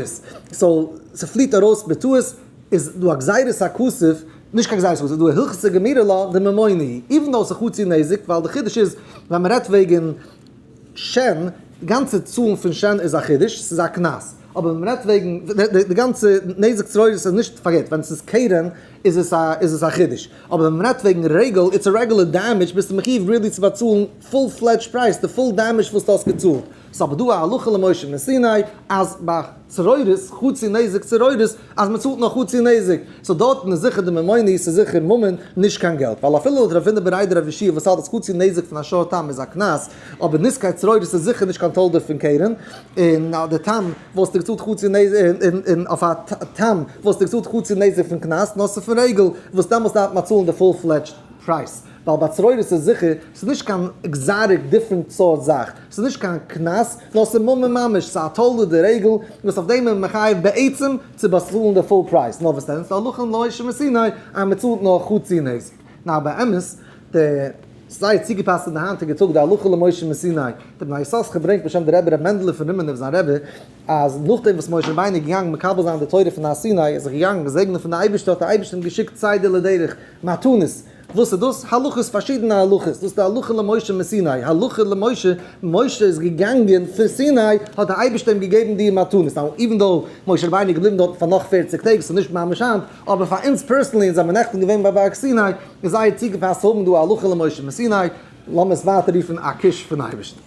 סאו ס'פליעט ארויס בטעות, איז דא א גזירת הכסף, נישט קיין גזירת הכסף, איז דא א הלכות סגמירא לה דממוני, איווען דאו ס'איז חצי נזק, ווייל די חידוש איז ווען מען רעדט וועגן שען, די גאנצע צאלן פון שען איז א חידוש, ס'איז א קנס, אבער ווען מען רעדט וועגן די גאנצע נזק שרורות איז נישט, פארגעט, ווען ס'איז קרן איז עס א חידוש, אבער ווען מען רעדט וועגן רגל, איטס א רעגולער דעמעדזש, ביסטו מחיוב ריעלי צו באצאלן. פול פלעדזש פרייז, די פול דעמעזש וואס דו האסט געצאלט, ס'איז אבער דא א הלכה למשה מסיני אז ביי צרורות, חצי נזק צרורות, אז מען צאלט נאר חצי נזק, סאו דארטן איז זיכער די ממוני, ס'איז זיכער ממון, נישט קיין געלט, ווייל אפילו לויט ר' ווינער בריידער אויף ישיבה וואס האלט אז חצי נזק פון א שור תם איז א קנס, אבער נזקי צרורות איז זיכער נישט קיין תולדה פון קרן, און אז די תם וואלסטו געצאלט חצי נזק, און אויף א תם וואלסטו געצאלט חצי נזק פון קנס, נאר ס'איז פון רעגל, וואס דעמאלטס דארף מען צאלן די פול פלעדזש פרייז. ווייל ביי צרורות איז זיכער, ס'איז נישט קיין עקזאטיק דיפרענט סארט זאך, ס'איז נישט קיין קנס, נאר ס'איז ממון ממש, ס'איז א תולדה דרעגל, וואס אויף דעם איז מען מחייב בעצם צו באצאלן די פול פרייז, נאר וואס דען, ס'הלכה אין לוי' שמסיני אז מען צאלט נאר חצי נזק, נאר באמת די, ס'איז זייער צוגעפאסט אין די היינטיגע טאג די הלכה למוי' שמסיני, דער בני יששכר ברענגט בשם דער רבי ר' מענדל'ע פון רימינוב זיין רבי, אז נאכדעם וואס משה רבינו איז געגאנגען מקבל זיין די תורה פון הר סיני, איז ער געגאנגען געזעגנען פון די אייבערשטער האט דער אייבערשטער אים געשיקט צידה לדרך, מתנות. וואס איז דאס? הלכות, פארשידענע הלכות, דאס איז די הלכה למשה מסיני, הלכה למשה, משה איז געגאנגען פון סיני, האט דער אייבערשטער אים געגעבן די מתנות, נאו איווען דאו משה רבינו איז געבליבן דארטן פאר נאך פֿערציק טעג, ס'איז נישט ממש היינט, אבער פאר אונז פערסענלי, אונז זעמיר נעכטן געווען ביי בארג סיני, איז זייער צוגעפאסט צו האבן דא א הלכה למשה מסיני, לאמיר עס ווייטער רופן א קיש פון אייבערשטן.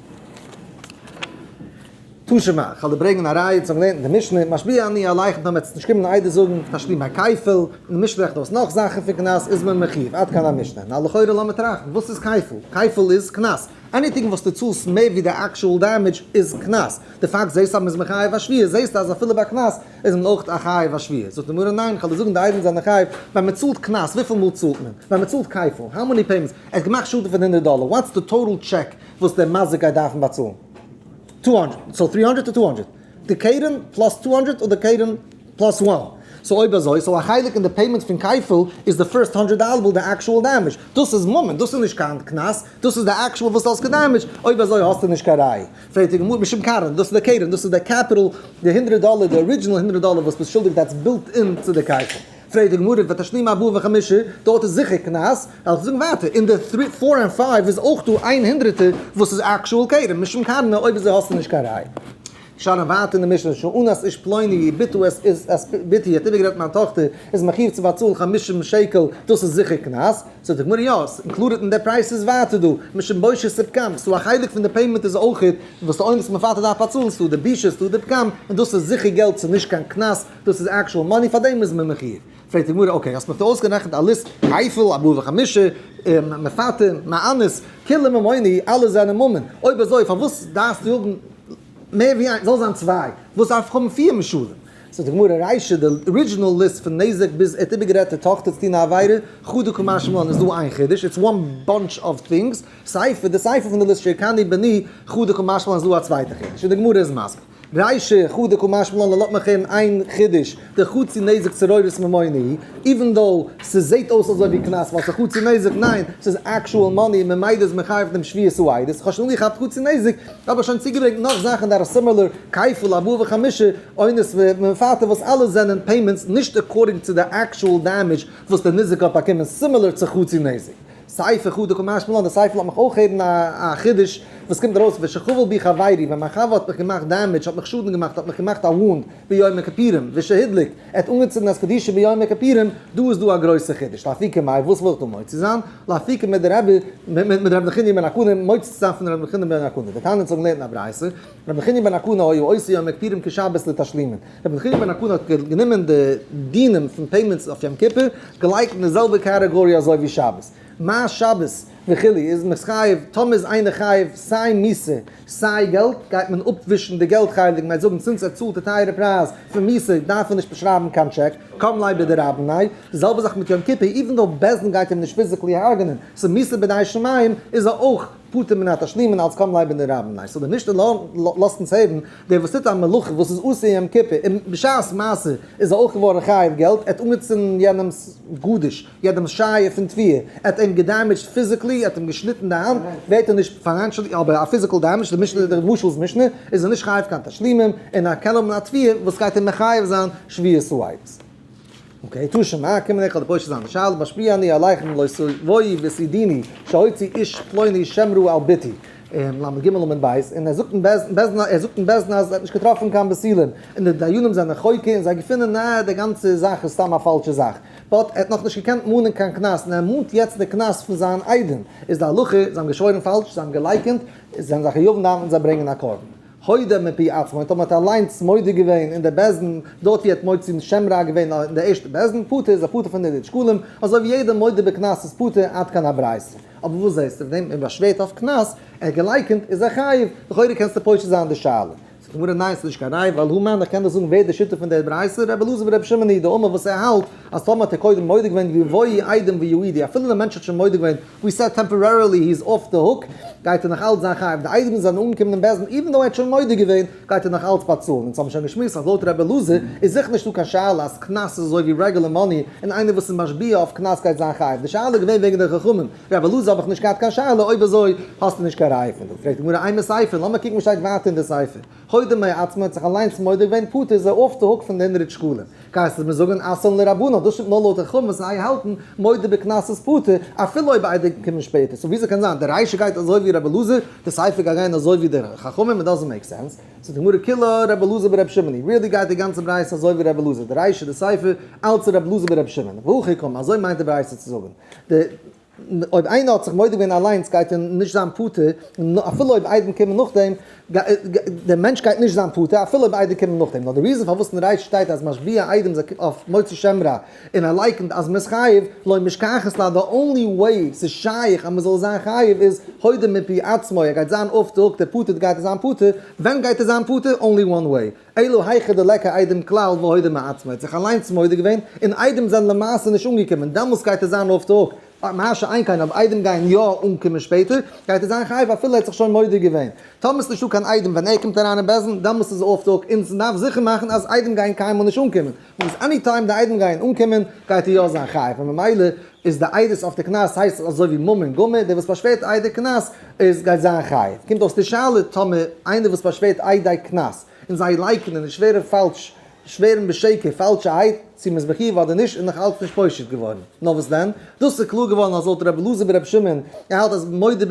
תשמ א, כ'על דיר ברענגען א ראיה צו האבן געלערנט אין די משנה, משביע אני על אייך דאן וועטס נישט קומען און איידער זאגן תשלים ביי כפל, אין די משנה רעכנט אויס נאך זאכן פון קנס איז מען מחיוב, עד כאן המשנה, נא לכאורה לאמיר טראכטן וואס איז כפל? כפל איז קנס, עניטינג וואס דו צאלסט מער ווי די עקשועל דעמעדזש איז קנס, די פאקט זעהסט אז מען איז מחייב א שביעית זעהסטו אז אפילו ביי קנס איז מען אויך א חייב א שביעית, זאגט די גמרא ניין כ'על דיר זאגן די איידעם זענען חייב ווען מען צאלט קנס וויפיל מאל צאלט מען? ווען מען צאלט כפל, האו מעני פעימענטס? ער האט געמאכט שאדן פון הונדערט דאלער, וואטס די טאטעל טשעק וואס דער מזיק גייט דארפן באצאלן? טו האנדרעט סאו טרי האנדרעט טו טו האנדרעט די קרן פלאס טו האנדרעט און די קרן פלאס וואן סאו אויב אזוי סאו א חלק אין די פעימענט פון קייפעל איז די פירסט האנדרעט דאלער וויל די עקשועל דעמעדזש דאס איז ממון דאס איז נישט קיין קנס דאס איז די עקשועל וואס האסט געדעמעדזשט אויב אזוי האסטו נישט קיין ראיה פערטיג גמור משום קרן דאס איז די קרן דאס איז די קעפיטעל די הונדרעט דאלער די ארידזשענעל הונדרעט דאלער וואס ביסט שולדיג דעטס בילט אין צו די קייפעל. פרעגט די גמרא ותשלים ארבעה וחמישה, דארט איז זיכער קנס, לאמיר זאגן ווייטער, אין די טרי פאר און פייוו איז אויך דא איין הונדרעטער וואס איז עקשועל כרם, משום כרמה אויב איז ער האסטו נישט קיין ראיה. שאלן ווייטער אין די משנה שאנאס איש פלוני י ביתו עס איז עס פ ביתי האט איבערגערעדט מיין טאכטער איז מחיוב צו באצאלן חמישים שקל דאס איז זיכער קנס, זאגט די גמרא יא עס אינקלודעט אין די פרייז ס'איז ווייטער דא משום בושה ס'איז פגם ס'דא א חלק פון די פעימענט איז אויך וואס די אונס מפתה דארף באצאלן ס'איז דא די בושה ס'איז דא די פגם און דאס איז זיכער געלט ס'איז נישט קיין קנס דאס איז עקשועל מאני פאר דעם איז מען מחיוב? פרעגט די גמרא אקעי האסט מיר דא אויסגערעכנט א ליסט כפל ארבעה וחמישה מפתים מענות כלים ממוני אלע זענען ממון אויב אזוי פארוואס דארפסטו האבן מער ווי איינס זאל זיין צוויי וואס דארף איך האבן פיר משלים? זאגט די גמרא ריישא די ארידזשינעל ליסט פון נזק ביז ער האט איבערגערעדט די טאכטער צו טון א עבירה חו דו כמאן שמע לן איז דא איין חידוש איטס וואן באנטש אוו טינגס סייפער די סייפער פון די ליסט שערקני בני חו דו כמאן שמע לן איז דא א צווייטע חידוש און די גמרא איז מסביר. רישא חדא כא משמע לן לאמיר הערן איין חידוש די חצי נזק צו רוירות ממונע הי איווען דאו ס'זעהט אויס אזוי ווי קנס ווייל ס'איז חצי נזק ניין ס'איז עקשועל מאני און ממילא איז מחייב דעם שביעית רוירות כ'האב שוין אנגעכאפט חצי נזק האב איך שוין צוגעברענגט נאך זאכן דאט אר סימילער כפל ארבעה וחמישה עונות ומפטר וואס אלעס זענען פעימענטס נישט עקארדינג צו די עקשועל דעמעדזש וואס די נזק האט באקומען סימילער צו חצי נזק. ספר חו ד קומט משמע לן, די ספר לאזט מיך אויך הערן א חידוש וואס קומט ארויס ושכבל בי חברי, ווען מיין חבר האט מיך געמאכט דעמעדזש, האט מיך שאדן געמאכט, האט מיך געמאכט א וואונד ביום הכפירים, ושהדליק, ער האט אנגעצינדן אז קדישא ביום הכפירים, דא איז דא א גרויסע חידוש, לאפי ק מאי, וואס וויל איך דא מוציא זיין? לאפי ק מיט די רבי, מיט רבי נחוניא בן הקנה, מוציא צו זיין פון רבי נחוניא בן הקנה, די תנא זאגן לערנט אין א ברייתא, רבי נחוניא בן הקנה היה עושה יום הכפירים כשבת לתשלימין, רבי נחוניא בן הקנה האט גענומען די דינים פון פעימענטס אויף יום כיפור געלייגט אין די זעלבע קאטעגאריע אזוי ווי שבת, מה שבת וכו' איז מען חייב, טאמער איז איינער חייב סיי מיסע סיי געלט גייט מען אפווישן די געלט חלק, מען גייט זאגן צינץ ער צאלט די טייערע פרייז פון מיסע דארף ער נישט באשרייבן קיין טשעק, קם ליה בדרבנן, די זעלבע זאך מיט יום כיפור איווען דאו בעסד אין גייט אים נישט פיזיקלי הרג'נען, ס'איז מיסע בידי שמים איז ער אויך. פטור מן התשלומין אלס קוים לעבען די רבי ניישט אדער נישט לאזט אונז הערן דער וואס טוט א מלאכה וואס איז אסור יום כיפור און בשעת מעשה איז ער אויך געווארן חייב געלט ער האט אנגעצינדן יענעמס גערדיש יענעמס שייער פון תביעה ער האט אים געדעימעדזשט פיזיקלי ער האט אים געשניטן די האנט ווערט ער נישט פיינענשעלי אבער א פיזיקעל דעימעדזש למשל דער משל'ס משנה איז ער נישט חייב קיין תשלומים און א כלב מן התביעה וואס גייט אים מחייב זיין שביעות רצון. און קיין יתושים מה אקים עליך די פושע זיינע שאלה משפיע אני עליך אם לא תבואי ותדעיני שהוציא איש פלוני שם רע על ביתי אין למד ג' למד ב' און ער זאגט אין בעסטן ער זאגט אין בעסטן אז ער האט נישט געטראפן קיין פסילים און די דיינים זענען חוקר און זיי געפונען ניין די גאנצע זאך איז סתם א פאלשע זאך באט ער האט נאך נישט געקענט מאנען קיין קנס און ער מאנט יעצט די קנס פון זיין איידעם איז די הלכה זיי האבן געשוואוירן פאלש זיי האבן געלייקענט זיי זענען זיי חיוב און דארפן זיי ברענגען א קרבן. הודה מפי עצמו, און טאמער האט ער אליינס מודה געווען אין די בית דין, דארט ווי ער האט מוציא שם רע געווען אין די ערשטע בית דין, פטור איז ער פטור פון די די שקלים, אזוי ווי יעדער מודה בקנס איז פטור עד כאן הברייתא. אבער וואס זעהסטו פון דעם, ער באשווערט אויף קנס, ער האט געלייקענט, איז ער חייב, לכאורה קענסטו פושט זיין די שאלה. זאגט די גמרא ניין ס'איז נישט קיין ראיה ווייל הא מיין איך קען דאך זאגן ווער די שיטה פון די ברייתא, רבי אלעזר ורבי שמעון היו די אמר וואס ער האלט אז טאמער האט ער קודם מודה געווען יבואי איידעם ויעידי אפילו די מענטש האט שוין מודה געווען ווי סא טעמפארערילי הי איז אףף די הוק, גייט ער נאך אלץ זיין חייב, די איידעמס זענען אנגעקומען אין בעסטן איווען דאו ער האט שוין מודה געווען, גייט ער נאך אלץ באצאלן, אונז האבן שוין געשמועסט אז לויט ר' אלעזר איז זיכער נישטא קיין שאלה אז קנס איז אזוי ווי רעגולער מאני און איינער וואס איז משביע אויף קנס גייט זיין חייב, די שאלה איז געווען וועגן די חכמים, ר' אלעזר האב איך נישט געהאט קיין שאלה, אויב אזוי האסטו נישט קיין ראי' פון דא, פרעגט די גמרא איי מסייפר, לאמיר קוקן וואס שטייט ווייטער אין די ספר. הוידא מאי עתמא האט זיך אליינס מודה געווען פטור איז ער אףף די הוק פון די ענדעריטש שכונה. כעת איז מיר זאגען אסון לרבנן דאס שטימט נאר לויט די חומר סיי האלטען מודה בקנס איז פטור אפילו אויב ביידע קומען שפעטער סאו וויאזוי קען זיין די ריישע גייט אזוי ווי רבי אלעזר די סייפער גייט גיין אזוי ווי די חכמים איט דאזענט מעיק סענס סאו די גמרא כולא רבי אלעזר ברבי שמעוני ריעלי גייט די גאנצע ברייתא אזוי ווי רבי אלעזר די ריישע די סייפער אלץ רבי אלעזר ברבי שמעון והכי קמא אזוי מיינט די ברייתא צו זאגען די אויב איינער האט זיך מודה געווען אליינס גייט ער נישט זיין פטור, אפילו אויב איידעם קומען נאכדעם, דער מענטש גייט נישט זיין פטור אפילו אויב איידעם קומען נאכדעם, נאר די ריזען פארוואס אין רייש שטייט אז משביע איידעם איז אויף מוצא שם רע, און ער לייקענט אז מען איז חייב, לא משכחת לה, די אנלי וועי ס'איז שייך אז מען זאל זיין חייב איז הודה מפי עצמו, ער גייט זיין אויפטער הויפט ער פטור גייט ער זיין פטור, ווען גייט ער זיין פטור? אנלי וואן וועי. אילו היכא דלעקא איידעם כלל והודה מעצמו, ער האט זיך אליינס מודה געווען, און איידעם זענען למעשה נישט אנגעקומען, דעמאלס גייט עס זיין אויף די הוק, מה שאין כן אויב איידעם גייען יא אנקומען שפעטער, גייט ער זיין חייב אפילו ער האט זיך שוין מודה געווען. טאמער איז נישטא קיין איידעם ווען ער קומט אריין אין בית דין, דעמאלס איז ער אויף די הוק, אונז דארף זיכער מאכן אז איידעם גייען קיינמאל נישט אנקומען. וואס עני טיים די איידעם גייען אנקומען גייט ער יא זיין חייב און ממילא איז די איידעס אויף די קנס הייסט עס אזוי ווי ממון און גמר דער וואס פארשווערט איידער קנס איז גייט זיין חייב קומט אויס די שאלה טאמער איינער וואס פארשווערט איידער קנס און זיי לייקענען און שווערען פאלש שווערען בשקר פאלשע אייד צו מ'איז מחיוב אדער נישט איז נאך אלץ נישט פושט געווארען נאר וואס דען דאס איז קלאר געווארען אז לויט רבי אלעזר בן רבי שמעון ער האלט אז מודה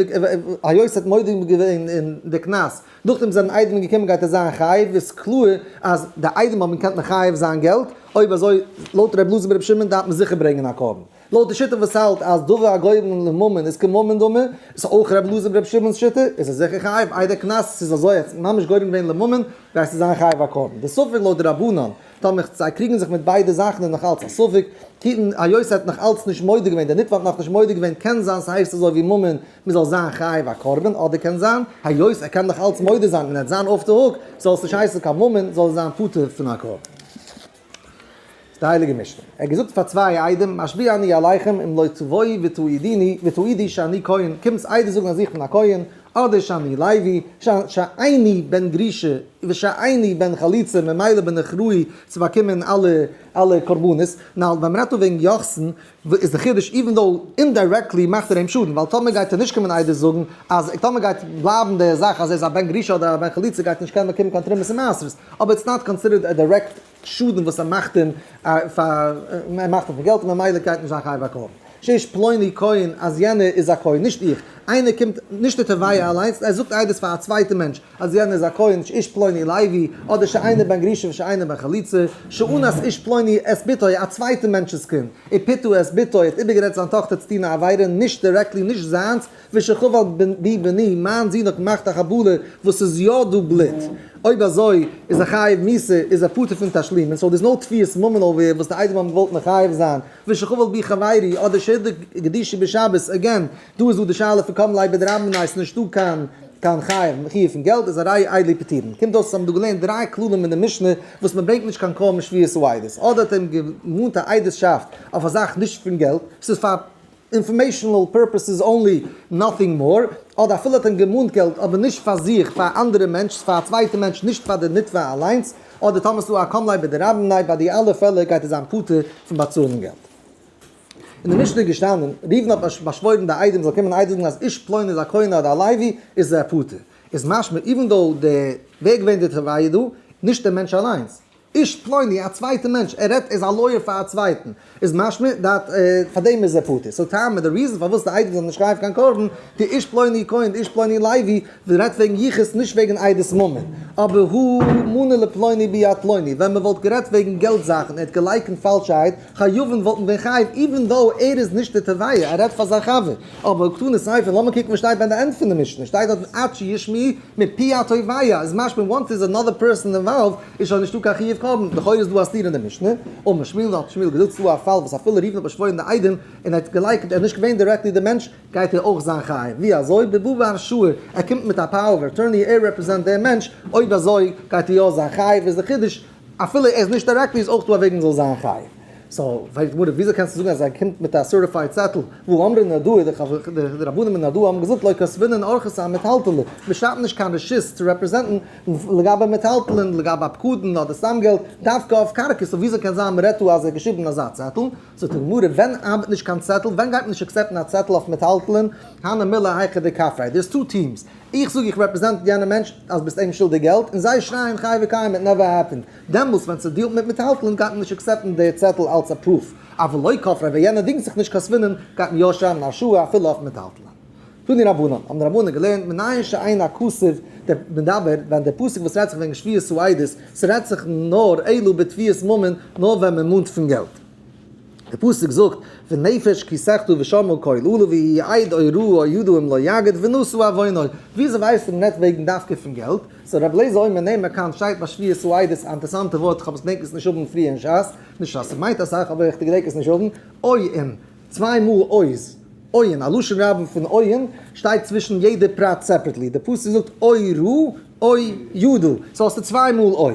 היות ער האט מודה געווען אין די קנס. נאכדעם זענען איידעמען געקומען גייט עס זיין חייב איז קלאר אז די איידעמען האבן געקענט מחייב זיין געלט אויב אזוי לויט ר' אלעזר בן ר' שמעון דארף מען זיכער ברענגען א קרבן לויט די שיטה וואס האלט אז דבר הגורם לממון איז כממון דמו איז אויך ר' אלעזר בן ר' שמעון'ס שיטה איז עס זיכער חייב איידער קנס עס איז אזוי אז ממש גורם געווען לממון גייט עס זיין חייב א קרבן די ספק לויט די רבנן טאמער זיי קריגן זיך מיט ביידע זאכן איז נאך אלץ א ספק היות ער האט נאך אלץ נישט מודה געווען דער נתבע האט נאך נישט מודה געווען קען זיין ס'הייסט אזוי ווי ממון מען זאל זיין חייב א קרבן, אדער קען זיין היות ער קען דאך אלץ מודה זיין און ער וועט זיין אףף די הוק, זאל עס נישט הייסן קיין ממון, זאל ער זיין פטור פון א קרבן. די הייליגע משנה. ער האט געזאגט פאר צוויי עדים משביע אני עליכם אם לא תבואי ותעידיני ותעידי שאני כהן, קומטס איידער זאגן אז איך בין א כהן, אדער שאני לוי, שאני בן גרישה, ושאני בן חליצה, ממילא בין איך ראוי צו באקומען אלע קרבנות, נאר ווען מען רעדט דא וועגן יוחסין, וואס איז די חידוש איווען דאו אינדיירעקטלי מאכט ער אים שאדן ווייל טאמער גייט ער נישט קומען עדות זאגן אז טאמער גייט בלייבן די זאך אז ער איז א בן גרושה אדער א בן חליצה גייט ער נישט קענען באקומען קיין תרומות און מעשרות אבער איטס נאט קאנסידערט א דירעקט שאדן וואס ער מאכט אים פאר ער מאכט אים פאר געלט און ממילא גייט נישט זיין חייב הקרבן שיש פלוני כהן אז יענער איז א כהן נישט איך איינער קומט נישט די תובע אליינס ער זאגט עדות פאר א צווייטע מענטש אז יענער איז א כהן ש איש פלוני לייבי, אדער ש איינער בן גרשון וש איינער בן חליצה, ש און אז איש פלוני את בתו, א צווייטע מענטש'ס קינד, און פתו את בתו, האט איבערגערעדט זיין טאכטער צו טון א עבירה, נישט דירעקטלי, נישט זיינס, וש ח ווייל בי בני, מיין זון האט געמאכט א חבלה וואס ס'איז יא דא בלוט, אויב אזוי איז ער חייב מיתה, איז ער פטור פון תשלומים, סאו דער'ס נאו תביעת ממון אויף ווער וואס די איידעם האבן געוואלט מחייב זיין, וש ח ווייל בי חברי, אדער ש די קדושי בשבת, עגעין, דא איז דא די שאלה פון קודם לייב בדרבנן איז נישט דא קיין קיין חייב מחיה פון געלט איז א ראיה איידלי פטורין קומט אויס אז האבן דא געלערנט דריי כללים אין די משנה וואס מען ברענגט נישט קיין קול משמיע צו עדות אדער האט אים געמאנט א עדות'שאפט אויף א זאך נישט פון געלט ס'איז פאר אינפארמעישאנעל פורפעסעס אנלי נאטינג מאר אדער אפילו האט אים געמאנט געלט אבער נישט פאר זיך פאר א אנדערע מענטש ס'איז פאר א צווייטע מענטש נישט פאר די נתבע אליינס אדער טאמער ס'איז דא א קודם לייב בדרבנן ביי די אלע פעלער גייט ער זיין פטור פון באצאלן געלט. אין די משנה איז געשטאנען, ראובן האט באשוואוירן די איידעם זאל קומען איידער זאגן אז איש פלוני איז א כהן אדער א לוי איז ער פטור. איז משמע איווען דאו די ווער געווען די תובע דא? נישט דער מענטש אליינס. איש פלוני א צווייטע מענטש ער רעדט ער איז א לויער פאר א צווייטן איז משמע דאט פאר דעם איז ער פטור. סאו טעמא די ריזען פארוואס די איידעם זאלן נישט קרייען פאר קיין קרבן די איש פלוני כהן די איש פלוני לוי רעדט וועגן יחוס נישט וועגן עדת ממון אבער הוא מונה לפלוני ביד פלוני ווען מען וואלט גערעדט וועגן געלט זאכן ער האט געלייקענט פאלשערהייט חיובים וואלטן ווען חייב איווען דאו ער איז נישט די תביעה ער רעדט פאר זיין חבר. אבער קטנות סייפן לאמיר קוקן וואס שטייט ביי די ענד פון די משנה שטייט דארטן עד שישמעו מפי התובע איז משמע וואנס ס'איז אנאדער פערסאן אינוואלווד איז שוין נישטא קיין חיוב קרבן לכאורה איז דא א סתירה אין די משנה און משמע לן האט שמואל געזאגט ס'דא א פאל וואס אפילו ראובן האט באשוואוירן די איידעם און ער האט געלייקנט ער איז נישט געווען דירעקטלי די מענטש גייט ער אויך זיין חייב ווי אזוי די באבע אשור ער קומט מיט א פאוער אוו אטורני ער רעפרעזענט די מענטש אויב אזוי גייט ער יא זיין חייב איז די חידוש אפילו ער איז נישט א רעקבי איז אויך דא א וועג מען זאל זיין חייב. סאו פרעגט די גמרא וויאזוי קענסטו זאגן אז ער קומט מיט א סערטיפייד צעטל וואו אמרי נדו די רבנים אין נדו האבן געזאגט לא כספינן ארכסא א מיטהאלטעלע מען שרייבט נישט קיין רשות צו רעפרעזענטן לגבי מיטהאלטעלן לגבי א פקדון אדער סתם געלט דווקא אויף קרקע סאו וויאזוי קען זיין מען רעדט דא אז ער האט געשריבן אזא צעטל זאגט די גמרא ווען ארבעט נישט קיין צעטל ווען גייט מען נישט עקסעפטן א צעטל אויף מיטהאלטעלן הנה מילי היכא דקפרא דער'ס טו טיעמס איך זאג איך רעפרעזענט יענע מענטש אז ביסט אים שולדיג געלט און זיי שרייען חי וקיים איט נעווער העפענד, דעמאלס ווען ס'דיעלט מיט מיטהאלטלונג גייט מען נישט עקסעפטן די צעטל אלץ א פרוף אוו לוי כופרה ווען יענער דינגט זיך נישט קיין ספינען גייט מען יא שרייען און א שורה אפילו אויף מיטהאלטלונג פון די רבנים האבן די רבנים געלערנט מנין שאין הכסף די מדבר ווען די פסוק וואס רעדט זיך וועגן שביעות העדות ס'רעדט זיך נאר אלא בתביעת ממון נאר ווען מ'מאנט פון געלט. די פסוק זאגט, ונפש כי סחטו ושמעו קול אלה ויהי העיד אוי ראה אוי ידעו אם לא יגד ונשאו עווינו'. וויאזוי ווייסט מען נעט וועגן דווקא פון געלט? סאו רבי לעזער אויב מ'נעמט מען כאן שטייט ביי שביעות העידות א אינטערסאנטע ווארט כ'האב עס געדענקט עס נישט האבן פריער אין שס, נישט אז ס'מיינט אסאך אבער איך געדענק עס נישט האבן, עוין, צוויי מאל עוז, עוין, א לשון רבים פון עוין, שטייט צווישן יעדע פרט סעפערעטלי, די פסוק זאגט אוי ראה אוי ידעו, סאו האסטו צוויי מאל אוי.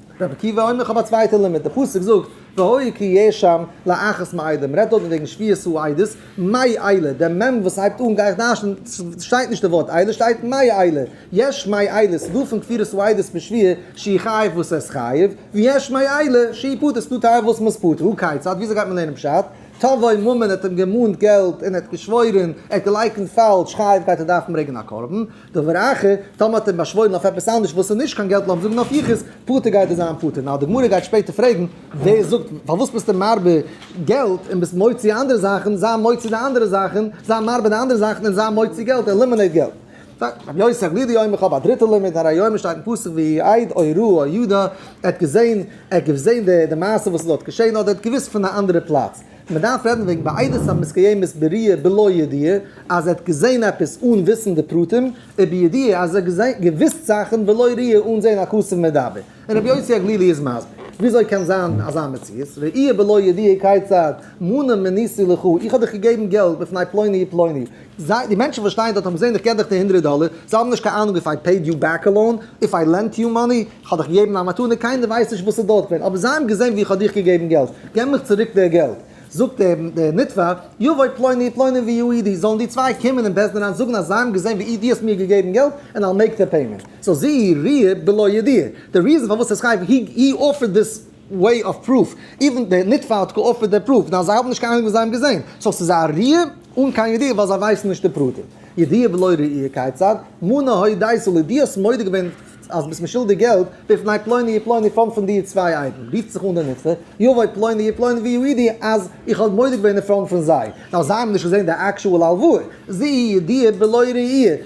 רבי עקיבא אומר איך האב א צווייטע לימוד, די פסוק זאגט והוי כי יהיה שם לאחת מעידה, מען רעדט דארט וועגן שביעת העידות, מאי איילה, דער מ' וואס הייבט אן גיי איך דרש'ן, שטייט נישט די ווארט איילה, שטייט מאי איילה, יש מאי איילה, ס'דא פון כפירת העידות מיט שביעה שהיא חייב וואס עס חייב, ויש מאי איילה שהיא פטור, ס'דא טייל וואס מ'איז פטור, הכיצד, וויאזוי גייט מען לערנען פשט, תבואי ממון ער האט אים געמאנט געלט און ער האט געשוואוירען, ער האט געלייקענט פאלש, חייב גייט ער דארפן ברענגען א קרבן, דבר אחר, טאמער האט ער באשוואוירן אויף עפעס אנדערש וואס איז נישט קיין געלט לאמיר זאגן אויף יחוס, פטור גייט ער זיין פטור. נאר די גמרא גייט שפעטער פרעגן, ווער זאגט, פארוואס ביסטו מרבה געלט און ביסט מוציא אנדערע זאכן, זיי מוציא די אנדערע זאכן, זיי מרבה די אנדערע זאכן און זיי מוציא געלט, עלימינעיט געלט. רבי יוסי זאגט לי די יומא, כ'האב א דריטע לימוד, הרי יומא שטייט אין פסוק ויהי עיד או ראה או ידע, ער האט געזעהן, ער האט געזעהן די מעשה וואס איז דארט געשעהן אדער ער האט געוויסט פון א אנדערע פלאץ. מען דארף רעדן וועגן בעדות המסקיימת בריאה בלא ידיעה, אז ער האט געזען עפעס אן וויסן די פרטים, ובידיעה אז ער האט געוויסט זאכן ולא ראי' אן זען א חסיד מדבר, און רבי יוסי הגלילי איז מסביר וויאזוי קען זיין אזא מציאות, ראי' בלא ידיעה כיצד, מנה מניסי לך, איך האב דיך געגעבן געלט בפני פלוני ופלוני, זיי, די מענטשן וואס שטייען דארט האבן געזען איך געב דיך די הונדרעט דאלער, זיי האבן נישט קיין אהנונג איף איי פעיד יו בעק א לאון, איף איי לענט יו מאני, כ'האב דיך געגעבן א מתנה, קיינער ווייסט נישט וואס איז דארט געווען, אבער זיי האבן געזען ווי איך האב דיך געגעבן געלט, געב מיך צוריק די געלט. זאגט דער נתבע, יבואו פלוני פלוני ויהיו עדי, זאלן די צוויי קומען אין בית דין אריין זאגן אז זיי האבן געזען ווי דו האסט מיר געגעבן געלט, און אי'ל מעיק די פעימענט. סאו זי ר בלא ידיעה, די ריזען פארוואס ער איז חייב, הי אופערד דיס. וועי אף פרוף, איווען די נתבע האט קאאפערט די פרוף, דאן זיי האבן נישט קיין אהנונג וואס זיי האבן געזעהן, סאו ס'איז א ראי' אן קיין ידיעה ווייל זיי ווייסן נישט די פרטים. ידיעה בלא ראי' כיצד מונע הוי דאי סאל די האסט מודה געווען אז ביסט משולדיג די געלט בפני פלוני ופלוני פארנט פון די צוויי איידן רופט זיך אן די נתבע יבוא פלוני ופלוני ויעידי אז איך האב מודה געווען אינפראנט פון זיי ווייל זיי האבן נישט געזעהן די עקשועל הלוואה זי ע ידיעה בלא ראי'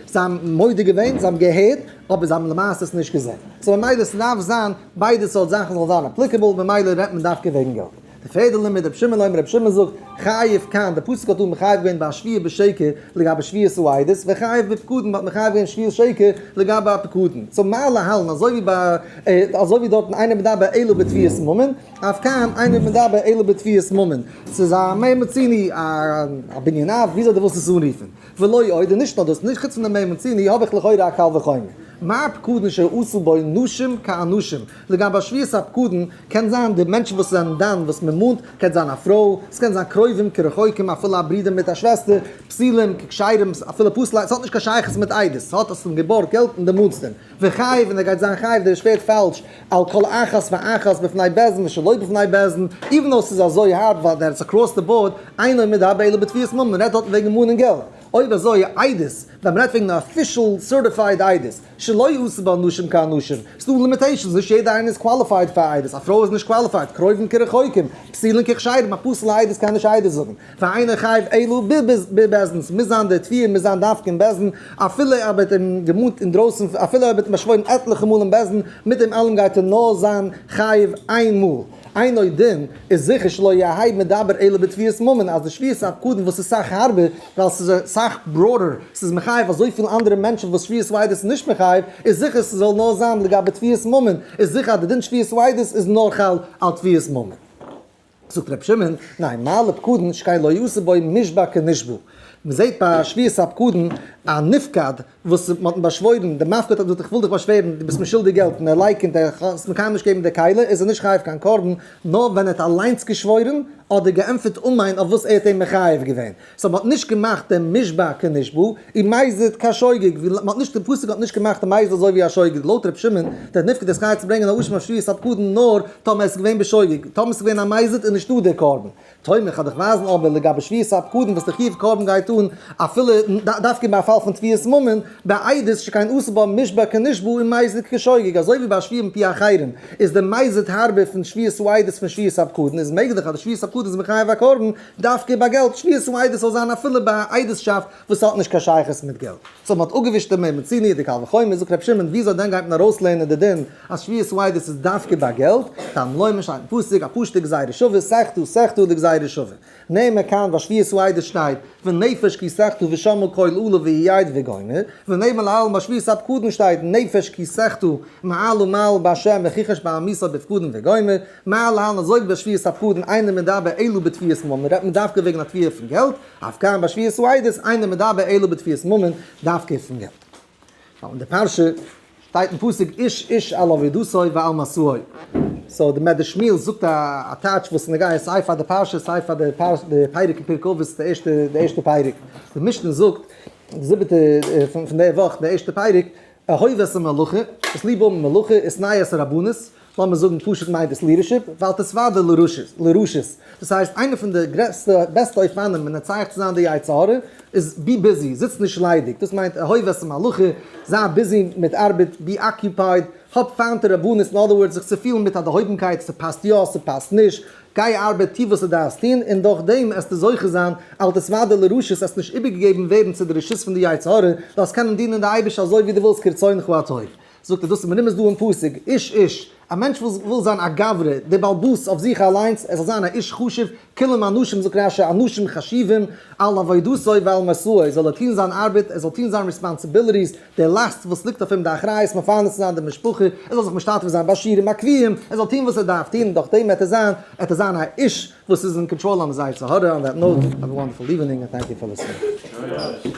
זיי האבן מודה געווען זיי האבן געהערט אבער זיי האבן למעשה עס נישט געזעהן סאו ממילא ס'דארף זיין ביידע סארט זאכן זאל זיין אפליקעבל, ממילא רעדט מען דווקא וועגן געלט. די פערדע לימוד רבי שמעון לוימער רבי שמעון זאגט, חייב כאן, די פסוק האט דא מחייב געווען ביי א שביעה בשקר לגבי שביעת העדות, וחייב בפקודים האט מחייב געווען שביעת שקר לגבי א פקודים, סאו מה להלן אזוי ווי ביי אזוי ווי דארטן אינו מדבר אלא בתביעת ממון, אויף כאן אינו מדבר אלא בתביעת ממון, ס'איז א מעין מציני, א בניניו, וויאזוי דו ווילסט עס אנרופן. ולא עוד, און נישט נאר דאס, חוץ פון די מ' און צ' און ה' האב איך לכאורה א קל וחומר. מה הפקדן שעשו בו נשים כאנשים, לגבי שביעות הפקדן, קען זיין די מענטשן וואס זענען דן וואס מען מאנט, קען זיין א פרוי, עס קען זיין קרובים כרחוקים אפילו א ברודער מיט א שוועסטער, פסילים כקשרים, אפילו פסלים, עס האט נישט קיין שייכות מיט איידעס, עס האט אז פון געבורט געלט און די מאנסט אים, וכו', און ער גייט זיין חייב דער איז שפעט פאלש, על כל אחת ואחת בפני בעזן ושלא בפני בעזן, איווען דאו ס'איז אזוי הארב ווייל דער איז אקראס די באורד, אינו עומד הא בעילה בתביעת ממון, מ'רעדט דארטן וועגן ממון און געלט, אויב אזוי עדות, ווען מ'רעדט וועגן א אפישעל סערטיפייד עדות, שלא יעשו בה נשים כאנשים, ס'דא לימיטעישאנס, נישט יעדע איינע איז קוואליפייד פאר א עדות, א פרוי איז נישט קוואליפייד, קרובים כרחוקים, פסילין ככשרים, א פסול'ע עדות קען נישט עדות זאגן. פאר איינער חייב אלא ב ב בעסטנס מוז זיין דער תביעה מוז זיין דווקא אין בעסטן אפילו ער וועט אים געמאנט אינדרויסן אפילו ער וועט אים באשוואוירן עטליכע מאל אין בעסטן מיט דעם אלעם גייט ער נאר זיין חייב איין מאל אין עוד דין איז זיכער שלא יהי' מדבר אלא בתביעת ממון אז די שביעת הפקדון וואס איז סאך הארבער ווייל ס'איז אסאך בראדער ס'איז מחייב אזויפיל אנדערע מענטשן וואס שביעת ואידות איז נישט מחייב איז זיכער ס'זאל נאר זיין לגבי תביעת ממון איז זיכער אז די דין שביעת ואידות איז נאר חל על תביעת ממון. זאגט רבי שמעון, ניין, מעלה פקודן שכן לא יעשה בו נשבע כנשבו, מען זעט ביי שביעת הפקודן א נפקד וואס מען האט אים באשוואוירן, דער מפקד האט געזאגט איך וויל דיך באשווערן דו ביסט מיר שולדיג געלט און ער לייקענט ער האט עס מקיים נישט געגעבן די כלה איז ער נישט חייב קיין קרבן, נאר ווען ער האט אליינס געשוואוירן אדער געענטפערט אמן אויף וואס ער האט אים מחייב געווען. סאו מען האט נישט געמאכט דעם משבה כנשבו און מייזעלט קיין שוגג, ווי מען האט נישט דער פסוק האט נישט געמאכט די מייזל אזוי ווי א שוגג, לויט ר' שמעון דער נפקד איז חייב צו ברענגען א אשם אויף שביעת הפקדון נאר טאמער עס איז געווען בשוגג, טאמער עס איז געווען א מייזעלט איז נישטא דער קרבן. טועמער כ'על דיך ווייזן אבער לגבי שביעת הפקדון וואס די חיוב קרבן גייט אן אפילו דווקא אין א פאל פון תביעת ממון בעיד איז שכן אסור בה משבה כנשבו און מייזעלט כשוגג אזוי ווי ביי שביעה מפי אחרים איז די מייזעלט הארבער פון שביעת העידות פון שביעת הפקדון איז מעגליך אז די שביעת הפקדון איז מחייב א קרבן דווקא ביי געלט שמירת און עדות זאל זיין אפילו ביי א עדות'שאפט וואס האט נישט קיין שייכות מיט געלט. סאו מען האט אפגעווישט דעם מעמד צו נישט די קל וחומר, זאגט רבי שמעון וויאזוי דען גייט מען ארויסלערנען די דין אז שמירת און עדות איז דווקא ביי געלט, טעם לא ימין שטייט אין פסוק א פשוטע גזירה שווה סכתא סכתא דגזירה שווה נהנה כאן ביי שמירת און עדות שטייט ונפש כי סכתא ושמע קול עולה ויעיד וגומר ונהנה לעלמא ביי שמירת הפקדון שטייט נפש כי סכתא מעל ומעל בהשם וכיחש בעמיסא בפקדון וגומר מעל לעלמא זויגט ביי שביעות הפחדן איינער מדבר אלא בתביעת ממון, רעדט מען דווקא וועגן א תביעה פון געלט, אויף קאם ביי שביעות העדות איינער מדבר אלא בתביעת ממון, דווקא פון געלט. ווייל אין די פרשה שטייט אין פסוק איש איש על עבודתו ועל מעשהו. סאו די מדרש שמואל זאגט א טייטש וואס איז נוגע סיי פאר די פרשה סיי פאר די פרק אין פרק אבות די ערשטע די ערשטע פרק. די משנה זאגט די זיבעטע פון די וואך די ערשטע פרק, אהוב עשה מלאכה, עס ליב האבן מלאכה, עס נייעס רבנות. לאמיר זאגן פשוט מיינט דאס לידערשיפ, ואל תספד די לרשות, דאס הייסט איינע פון די גרעסטע בעסטע אופנים מנצח צו זיין די יצה ר איז בי ביזי, זיץ נישט ליידיג, דאס מיינט אהוב את המלאכה, זיי ביזי מיט ארבעט, בי אקיופייד, האב פיינט די רבנות, אין אדער ווארדס זיך צופיהלן מיט א דערהויבנקייט, ס'פאסט יא, ס'פאסט נישט, גיי ארבעט, טוה וואס דו דארפסט טון, און דורך דעם עסטו זוכה זיין, אל תספד די לרשות, עסט נישט איבערגעגעבן ווערן צו די רשות פון די יצה ר, זאלסט קענען דינען די אייבערשטער אזוי ווי דו ווילסט כרצונך הטוב. זאגט ער דאס מנין איז דא אין פסוק, איש איש, א מענטש וואס וויל זיין א גברי, דער בעל בית אויף זיך אליינס, ער זאל זיין א איש חשוב, כולם אנשים זאגט רש י, אנשים חשובים, על עבודתו ועל משאו, זאל ער טון זיין ארבעט, ער זאל טון זיין ריספאנסיביליטיס, די לאסט וואס ליגט אויף אים די אחריות מפרנס צו זיין די משפחה, ער זאל זיך משתתף זיין ביי שיעורים הקביעים, ער זאל טון וואס ער דארף טון, דורך דעם וועט ער זיין, וועט ער זיין א איש וואס איז אין קאנטראל, האמיר זייער צעהרע אן דעט נאוט, האוו א וואנדערפול איווענינג און טענק יו פאר ליסענינג.